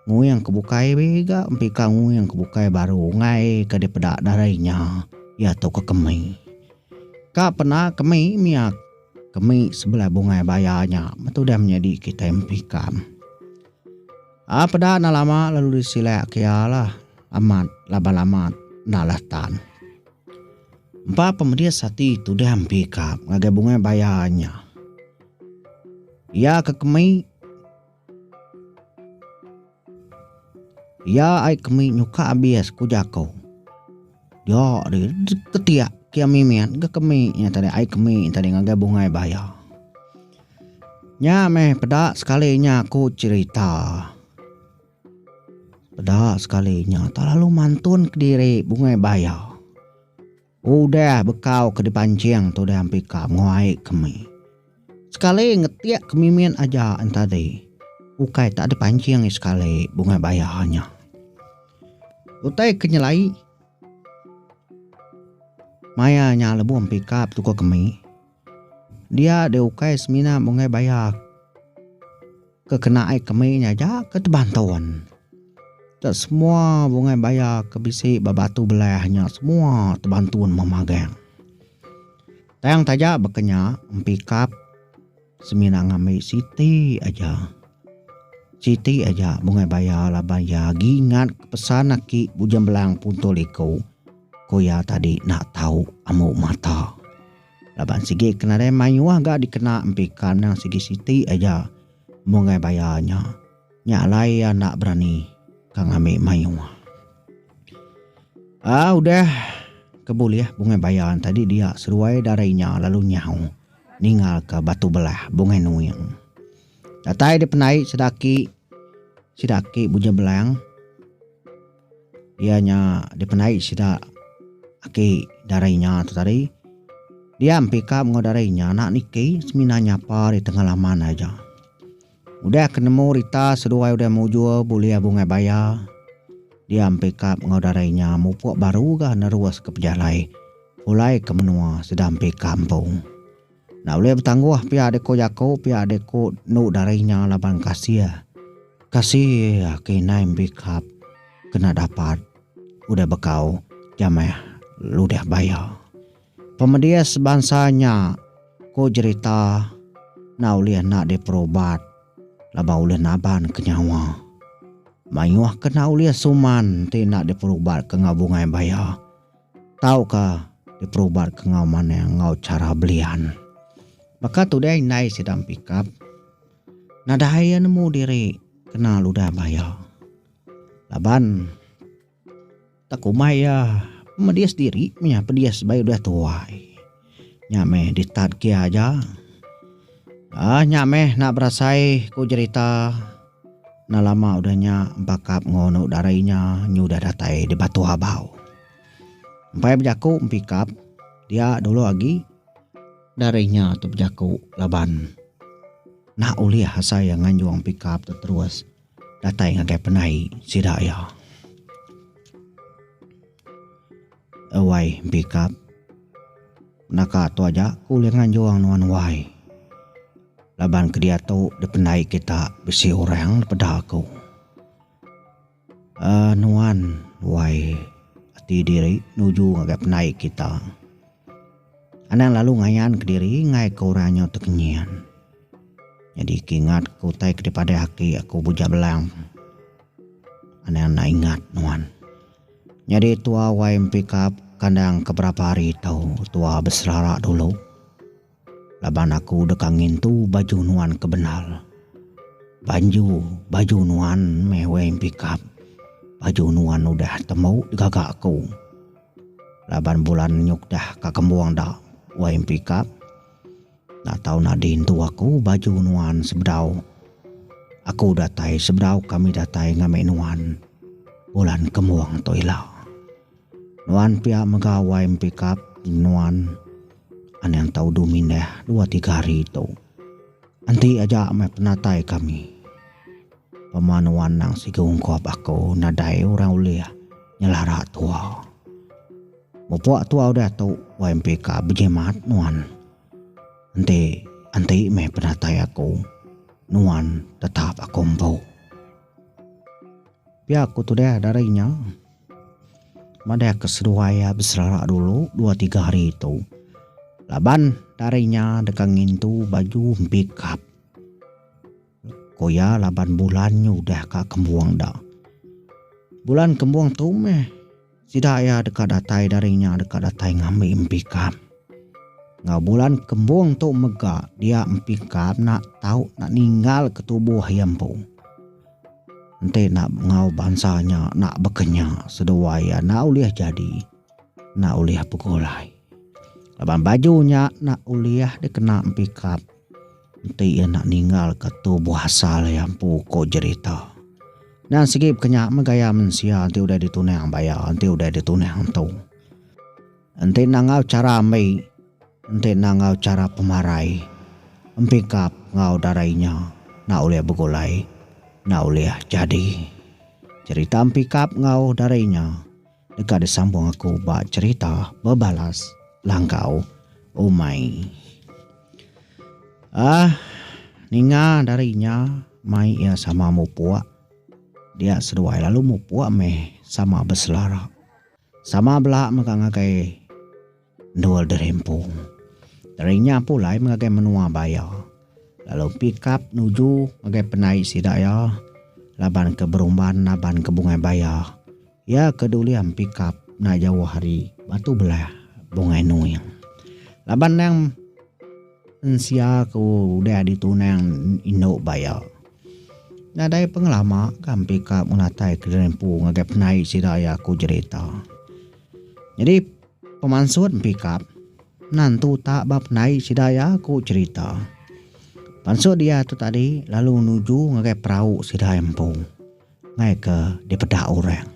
nguing ke bukai be ga empika nguing ke bukai baru unggai ke dipeda darai nya iya tu ke kemi. Ka pena kemi mia kemi sebelah bungai baya nya meh tudah menyadi kitai empika. A peda enda lama lalu disilak ke iya lah amat laban amat nala tan. Empa pemedis ati tudah empika ngagai bungai baya nya. Iya ke kemi Iya ai kemi nyuka abis ku jaku. Dia di ketiak kia mimit ke kemi nya tadi ai kemi tadi ngagai bungai baya. Nya meh peda sekali nya ku cerita. Peda sekali nya terlalu mantun kediri bungai baya. Udah bekau ke dipancing tu diampi ka menua ai kemi. Sekali ngetik ke mimin aja enta di, ukai tak dipancing i sekali bungai baya nya. Utai ke nyelai maya nya lebuh mpi ka petuka kemi. Dia deh ukai semina munggai baya ke kena ai kemi nya aja ke teban tun. Dak semua munggai baya ke bisi ba batu belah nya semua teban tun meh magang. Tang taja baka nya empi kap semina ngambi siti aja. Siti aja munggai baya laban iya agi ingat pesan aki Bujang Belang Punto Liko ku iya tadi enda tau ambu mata. Laban sigi ke nadai mayuh ga dikena empi kad endang sigi siti aja mung ai bayar nya. Nya alai iya enda berani ka ngambi mayuh. Aa udah ke bulih bungai bayar nya tadi dia seruai dara inya lalu nyau ningal ka Batu Belah Bungai Nuing. Datai dipendai sida aki sida aki Buja Belang. Iya nya dipendai sida aki darai nya tu tadi. Dia empikap enggau darai nya anak niki semina nyapa ari tengah laman aja. Udah ke nemu rita seduai udah mujur bulih bungai baya, dia empikap enggau darai nya mupuk baru ga neruska pejalai pulai ke menua sida empi kampung. Enda ulih betangguh pia deko jaku pia deko enu dari nya laban kasih. Kasih agi indai embikap kena dapat udah bekau jameh ludah baya. Pemedis bansa nya ku jerita enda ulih enda diperubat laban ulih naban ke nyawa. Mayuh ke enda ulih suman ti enda diperubat ke enggau bungai baya. Tauka diperubatka enggau manah enggau chara belian. Baka tu deh indai sida mepikap, nadai iya nemu diri kena ludah bah iya. Laban tak kumbai iya, pemedis diri meh iya pedis sebagai udah tuai. Nya meh di start kia aja. Aah nya meh nak berasai ku jerita enda lama udah nya bakap enggau anu dara inya nyu udah datai di Batu Habau. Empai bejaku empikap dia dulu agi dara inya tu bejaku laban nak ulih asai iya nganjung empikap tu terus datai ngagai penai sida iya. Wai Bikap, Naka tua aja aku ulih nganjung nuan wai. Laban ke diatu dipendai kita bisi orang dipeda aku. Uhh nuan wai ati diri nuju ngagai pendai kita. Anang lalu ngayan ke diri ngagai ke orang nyau tekenyin. Nyadi ke ingat ke utai ke dipadah aki aku bujak belang. Anang enda ingat nuan. Nyadi tua wai empikap kandang ke berapa hari tau tua beserara dulu. Laban aku deka ngintu baju nuan ke bendar. Banju baju nuan meh wai empikap. Baju nuan udah tembu digaga aku. Laban bulan nyuk dah ka kembung da wai empikap. Enda tau nadin tu aku baju nuan sebedau aku datai sebedau kami datai ngami nuan bulan kemung tu ila. Nuan pia mega wai empikap nuan anang tau du mindah dua tiga hari tu. Enti aja meh penatai kami. Pema nuan nang sigu ungkup aku nadai orang ulih nyelara tua. Mupok tua udah tu wai empi ka bejimat nuan. Enti enti meh penatai aku nuan tetap aku empu. Pia ku tudah dari nya madah ke seduai iya beserara dulu dua tiga hari tu laban dari nya deka ngintu baju empi kap. Ko iya laban bulan nyu udah ka kembung da. Bulan kembung tu meh sida iya deka datai daring nya deka datai ngambi empi kam. Enggau bulan kembung tu mega dia empi kam nak tau nak ninggal ke tubuh iya empu. Enti nak enggau bansa nya nak bekenya seduai iya nak ulih jadi nak ulih begulai. Laban baju nya nak ulih dikena empi kam. Enti iya enda ninggalka tu buah asal iya empu ko Jerita. Nan segi peka nya meh gaya mensia enti udah ditunang ba iya enti udah ditunang entu. Enti enda enggau chara ambi, enti enda enggau chara pemarai, empikap enggau darai inya enda ulih begulai, enda ulih jadi. Jerita empikap enggau darai inya. deka disambung aku ba cherita bebalas langgau umai. Ah, ninga dari nya mai iya sama mupuk. Dia seduai lalu mupuk meh sama beselara. Sama bela mega ngagai. Endur derimpung teri nya pulai ngagai menua ba iya lalu pikap nuju ngagai penai sida iya laban ke berumban naban ke Bungai Baya. Iya ke dulih pikap enda jauh ari Batu Belah, Bungai Nuing. Laban endang mensia ke udah ditunang indu ba iya nadai pengelama kan pikap ngenatai ke derimpung ngagai penai sida iya ku jerita. Jadi. Pemansut Empikap nantu utak ba pendai sida iya ku cherita. Pansut dia tu tadi lalu nuju ngagai perau sida empu mai ke dipeda orang.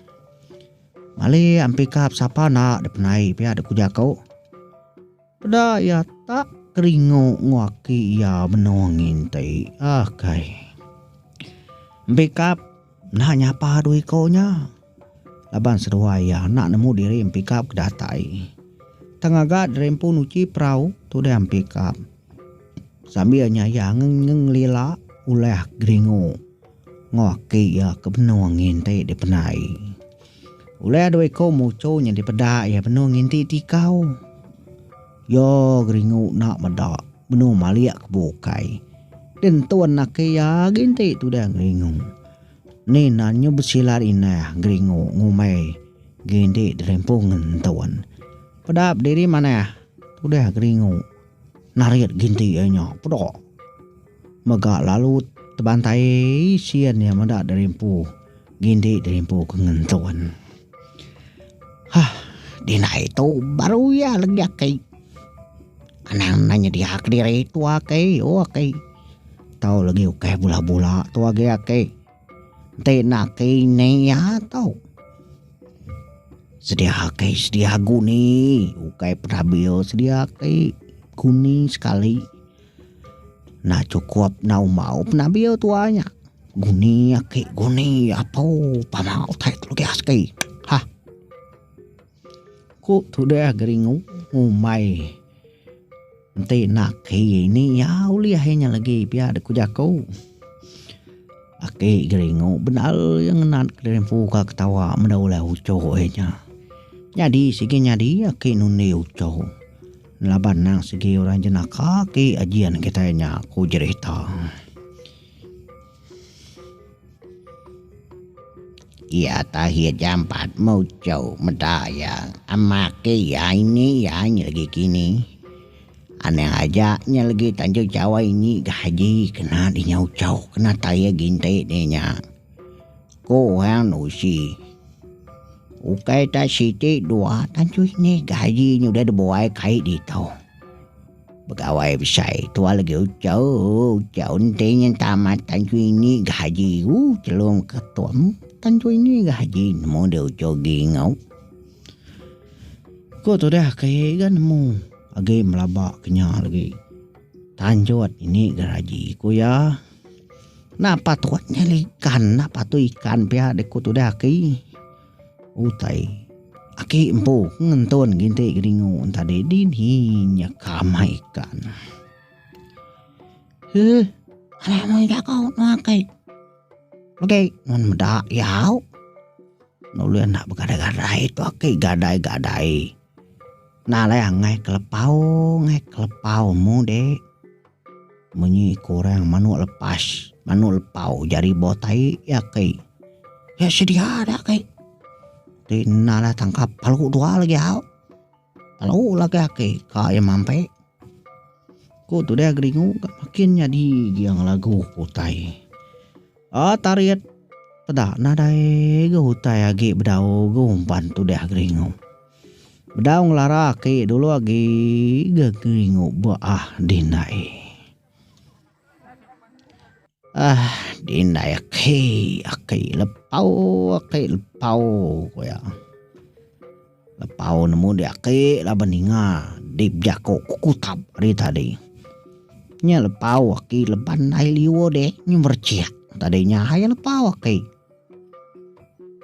Mali Empikap sapa enda dipendai pia dek ku jaku. Peda iya tak keringu enggau aki iya benung nginti. Akai. Empikap. Enda nyapa dua iko nya laban seduai iya enda nemu diri empikap ke datai. Tang ngaga diri empu nuchi perau tudah empikap sambil nya iya ngelila ulah geringu enggau aki iya ke benung nginti dipenai. Ulih dua iku muchu nya dipeda iya benung nginti tikau. Iya geringu enda meda benung malik ke bukai. Di ntun laki iya agi enti tudah geringu. Ni nan nyu besilat inah geringu ngumbai gi enti dirimpung ngentun. Peda bediri manah tudah geringu narit gi enti iya nya peda. Mega lalu tebantai sian iya meda derimpu ngindi derimpu ke ngentun. Hah dinai tu baru iya legi aki anang enda nyedia kediri tua aki o aki tau legi ukai bula-bula tu agi aki enti enda aki ini iya tau sedia aki sedia guni ukai petabil sedia aki guni sekali. Enda cukup enda umbau pun abil tua nya. Guni aki guni apu pama utai tu legi asgi. Hah. Ku tudah geringu ngumbai enti enda aki ini iya ulih inya legi pia da ku jaku. Aki geringu bendar iya ngena kelimphu ka ketawa meda ulah uchu inya. Nyadi sigi nyadi aki nundi uchu. Laban endang sigi orang jenaka agi ajian kitai nya, ku Jerita. Iya takhir jampat muchou meda iya amake iya ini iya nyi legi kini. Anang aja nya legi tanjung jawai nyi gaji kena dinyauchou kena taye ginti dinya. Ku orang nuchi. Ukai tak siti dua tan cui ni gaji nya udah dibuai kai ditu. Begawai besai tua lagi ucha ucha enti nyin tamat tan cui ni gaji u chelum ke tum tan cui ni gaji nemu deh ucha gi ngau. Ko tudah ke ga nemu agi melaba ke nya lagi. Tan jut ini gaji ku iya. Napa tu nya ikan napa tu ikan pia dek ku tudah aki utai aki empu ngentun nginti geringu tadi dini nya ka amai ikan. Heh alai meh jaku nuan kai udah nuan meda yau nulih enda begadai gadai tu aki gadai gadai nalai angai kelepau ngai kelepau mu dek. Munyi ku orang manuk lepas, manuk lepau jari bau tai iya kai. Iya sedia da kai. Ti enda lah tangkap palu dua lagi au. Palu lagi aki ka iya mampai. Ku tudah geringu ka makin nyadi gia ngelagu ku utai. Aa tarit peda nadai ga utai agi bedau ga umban tudah geringu. Bedau ngelara aki dulu agi geringu ba ah dindai. Ah dindai aki aki lepau aki lepau ku iya. Lepau nemu dia aki laban ninga di bejaku kukutap ari tadi. Nya lepau aki leban ai liur deh nyemerechek tadi nya hai lepau aki.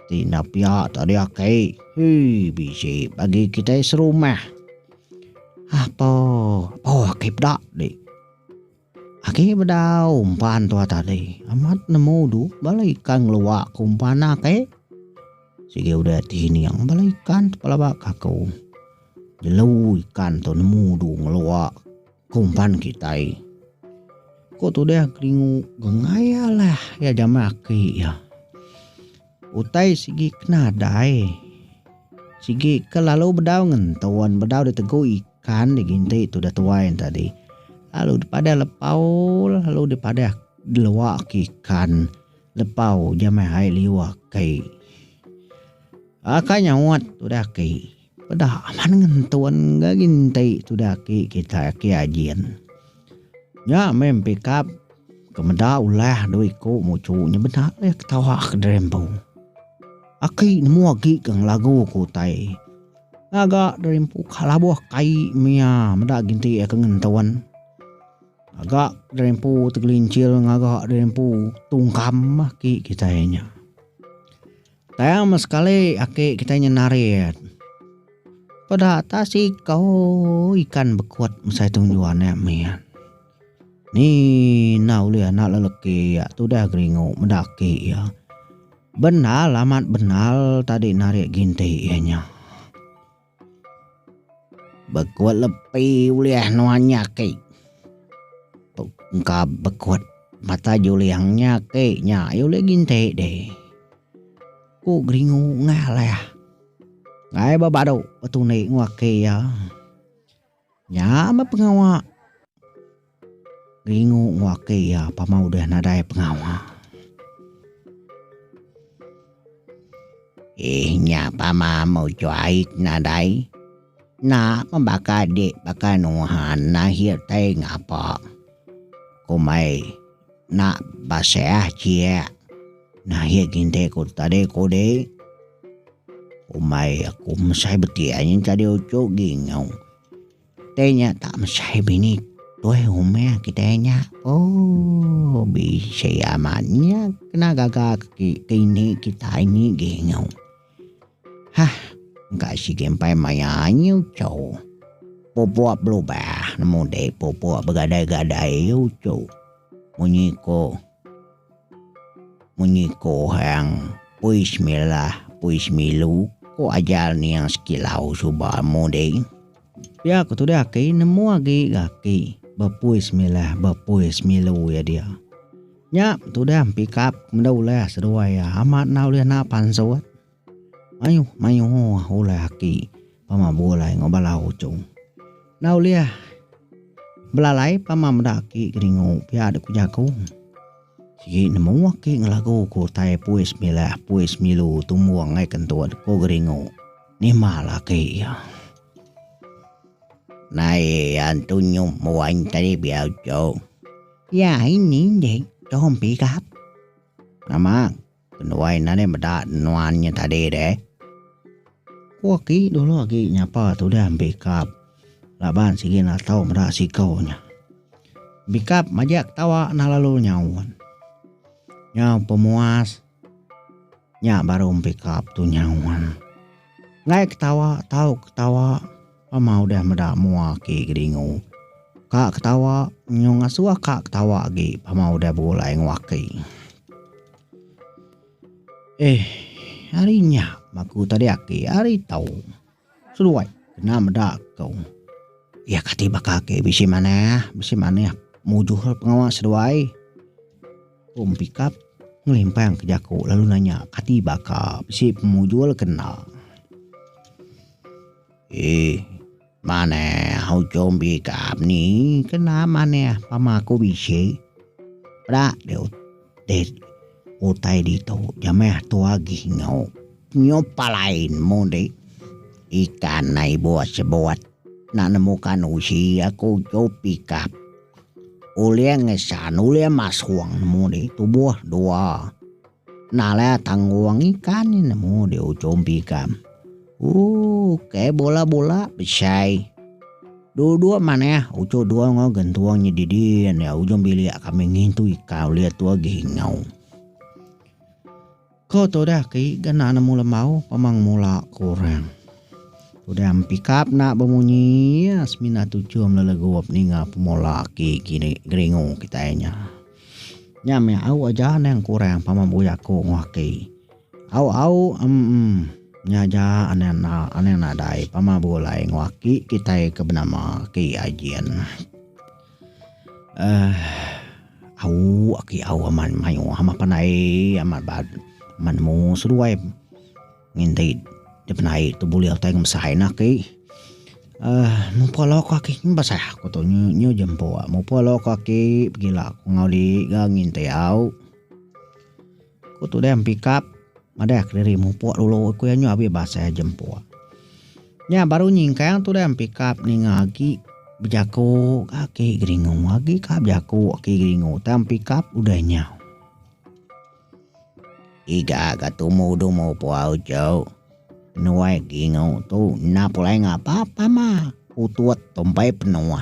Ti enda piak tadi aki. Hii bisi bagi kitai serumah. Apa oh aki peda di. Aki bedau umpan tua tadi amat nemu du bala ikan ngeluak ke umpan aki. Sigi udah ti ning bala ikan pelaba kaku. Jelu ikan tu nemu du ngeluak. Kumpan kitai. Ko tudah keringu gengaya lah ya jamai aki ya. Utai sigi kena dai. Sigi ke lalu bedau ngentuan bedau di tegu ikan di ginti tu dah tuai tadi. Lalu dipadah lepau lalu dipadah delua ke ikan lepau jamai hai liu aki. Akai nyaut tudah aki. Peda amat ngentun ga ginti tu daki kitai aki Ajin. Nya meh empikap ke meda ulah dua iku muchu nya beda leh ketawa ke diri empu. Aki nemu agi ke ngelagu ke utai. Ngaga diri empu ka labuh kai mia meda ginti aka ngentun. Ngaga diri empu tegelincil ngaga diri empu tungkam aki kitai nya. Tang meh sekali aki kitai nyeh narit. Peda atas ikou ikan bekut mesai tu ngejuan iya mian. Ni enda ulih anak lelaki iya tu udah geringu meda aki iya. Bendar amat bendar tadi narit ginti iya nyeh. Bekuat lepi ulih nuan nya aki. Tok engka bekuat mata juling nya aki nya iya ulih nginti deh. Ku geringu ngalih. Ngai ba badu betunik ngu aki iya. Nya meh pengawa Ringu ngewakei iya pama udah nadai pengawa. Eeh nya pama meh juai ke nadai. Enda meh baka dek baka nuhan akhir tai ngapa. Kombai. Enda basah chie. Nahi kinte ku tadi ku deh. Umai aku mesai beti ai nyin tadi uchu gingu. Te nya tak mesai bini tuai rumah kitai nya. Ooh bisi amat nya kena gaga ke dini kitai ni gingu. Hah engka sigi empai maya anyi uchu. Pupuk belubah nemu deh pupuk begadai-gadai ye uchu. Munyi ko munyi ko hang pui semilah pui semilu ko ajal ning sekilau suba nemu deh. Pia ko tudah agi nemu agi ga agi bepui semilah bepui semilu ye dia. Nya tudah empikap meda ulah seduai iya amat enda ulih naak pansut. Mayuh mayuh ulah aki pama begulai enggau bala uchung. Enda ulih belalai pama meda aki kedingu pia dek ku jaku. Sigi nemu aki ngelagu ku utai pui semilah pui semilu tumbung ai kentut ku kedingu. Nimbal aki iya. Nai antu nyum wan tadi biau chok. Iya ini dek Tom Pickup. Nama kenuai enda deh meda nuan nya tadi deh. Ku aki dulu agi nyapa tudah Pickup laban sigi enda tau meda siko nya. Pickup majak ketawa enda lalu nyaut. Nyau pemuas. Nya baru empikap tu nyaun. Enggai ketawa tau ketawa pama udah meda mua aki kedingu. Ka ketawa nyau ngasuh ka ketawa agi pama udah begulai enggau aki. Eh ari nya aku tadi aki ari tau. Seduai kena meda ko iya kati baka ake bisi manah bisi manah mujuh pengawa seduai um pickup ngelimpang ke jaku lalu nanya kati baka bisi pemujul kena ee manah ujung pickup ni kena manah pama ko bisi peda diut. Deh utai ditu jamai atu agi nyu nyu palain mung deh ikan nai buat sebuat na nemu kan usi aku tu pikap ulih ngesan ulih masong nemu deh tubuh dua nala tanggung ikan nemu deh ujung pikam. Ooh kaya bola-bola besai. Dua-dua manah uco dua enggau gentuang nya didin ya ujung bilik kami ngintu ika ulit tua gingau. Ko tu dah ki gana nemu lembau pemang mula ku orang. Udah empikap na bemunyi ya semina tuchum lelegup ninga pemula ki kini geringu kitai nya. Nya meh au aja nang kurang pama buya ku ngaki. Au au emm nya aja anang enda anang nadai pama begulai enggau aki kitai ke benama aki Ajin aah au aki au amat mayuh amat pandai amat amat nemu seduai nginti dipenai tu bulih utai enggau besai ne aki aah mupuk lauk aku aki meh besai aku tu nyu je empu mupuk lauk aku aki pegila aku enggau diri ga nginti au. Ku Tudai Empikap, Madah kediri mupuk dulu ku iya nyu abih basai jempuk. Nya baru nyingkang Tudai Empikap ninga agi bejaku Aki Geringu agi ka bejaku Aki Geringu tang Empikap udah nyau. Iga ka tumu dulu mupuk uchu. Nuai Geringu tu enda pulai ngapa pama utut tumpai penuh.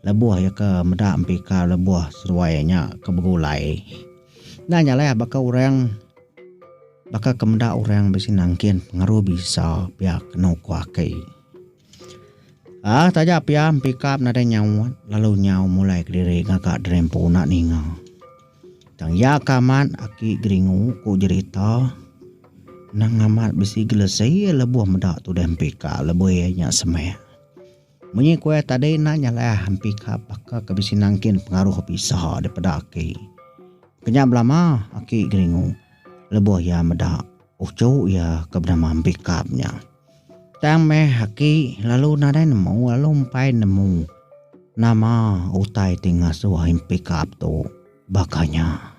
Lebuh iya ke meda empikar lebuh seruai iya nya ke begulai, enda nya alai baka orang baka ke meda orang bisi nangkin pengaruh bisa pia kenu ku aki. Aaa taja pia empikar nadai nyaut lalu nyau mulai kediri ngaga drempu enda ninga. Tang iya ke amat aki geringu ku jerita nang amat bisi gelesi lebuh meda tudah empikar lebuh iya nya semeh. Munyi kuih tadi enda nyalah empika baka ke bisi nangkin pengaruh bisa daripada aki. Kenya belama aki geringu lebuh iya meda uchu iya ke benama Empikap nya. Tang meh aki lalu nadai nemu lalu empai nemu nama utai ti ngasuh Empikap tu baka nya.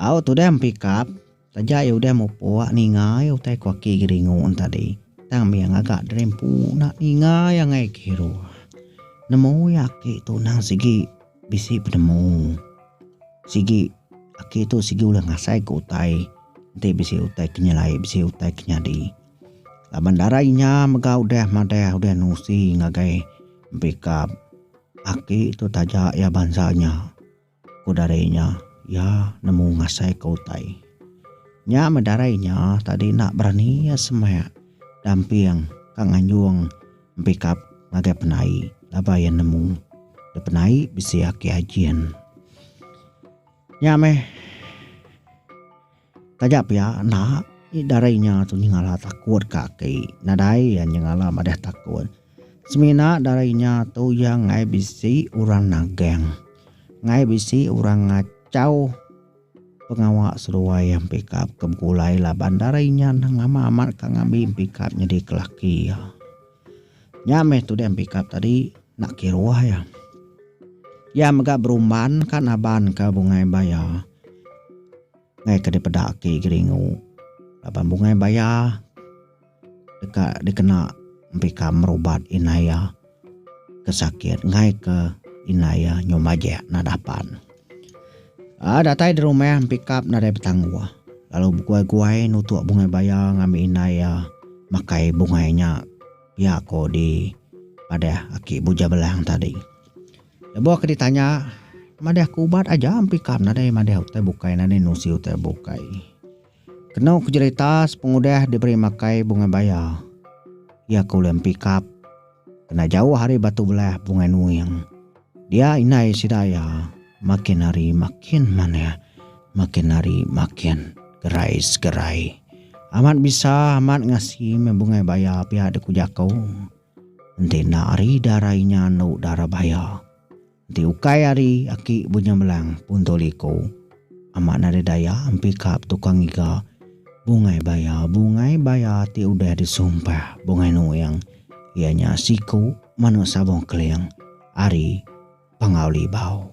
Au tudah empikap, taja iya udah mupuk ninga iya utai ku aki Geringu en tadi. Tang mih iya ngaga diri empu enda ninga iya angai ke hero. Nemu iya aki tu endang sigi bisi penemu. Sigi aki tu sigi ulih ngasai ke utai enti bisi utai ke nyelai bisi utai ke nyadi. Laban dara inya mega udah madah udah nusi ngagai empikap. Aki tu taja iya bansa nya. Ku darai nya, iya nemu ngasaika utai. Nya meh darai nya tadi enda berani iya semak damping ka nganjung empikap ngagai penai laban iya nemu dep penai bisi aki ajin. Nya meh. Taja pia enda ih dari nya tu nyengala takut ka aki nadai iya nyengala madah takut. Semina dari nya tu iya enggai bisi orang nagang enggai bisi orang ngachau pengawa seduai iya pikap ke begulai laban dari nya nang lama amat ka ngambi pikap nyadi ke laki iya. Nya meh tuding pikap tadi enda kiruh iya. Iya mega berumban ka naban ka bungai baya. Enggai ke dipeda agi Geringu laban bungai baya deka dikena mpika merubat indai iya ke sakit enggai ke indai iya nyau majek nadah pan. A datai dirumah mpikap nadai betangguh lalu beguai-guai nutuk bungai baya ngambi indai iya makai bungai nya pia ko dipadah aki Buja Belang tadi. Lebuh ke ditanya, Madah ke ubat aja empikam nadai madah utai bukai nadai nusi utai bukai. Kenu ke jerita sepengudah diberi makai bungai baya, iya ke ulih empikap kena jauh ari batu belah bungai nuing. Dia indai sida iya makin hari makin manah, makin hari makin gerai segerai. Amat bisa amat ngasi meh bungai baya pia dikuja aku. Enti enda ari dara inya anu dara baya. Enti ukai ari aki bunya melang pun tu liku. Amat nadai daya empi ka betukar ngiga bungai baya bungai baya ti udah disumpah bungai nuing iya nya siku manu sabong keling ari Pangau Libau.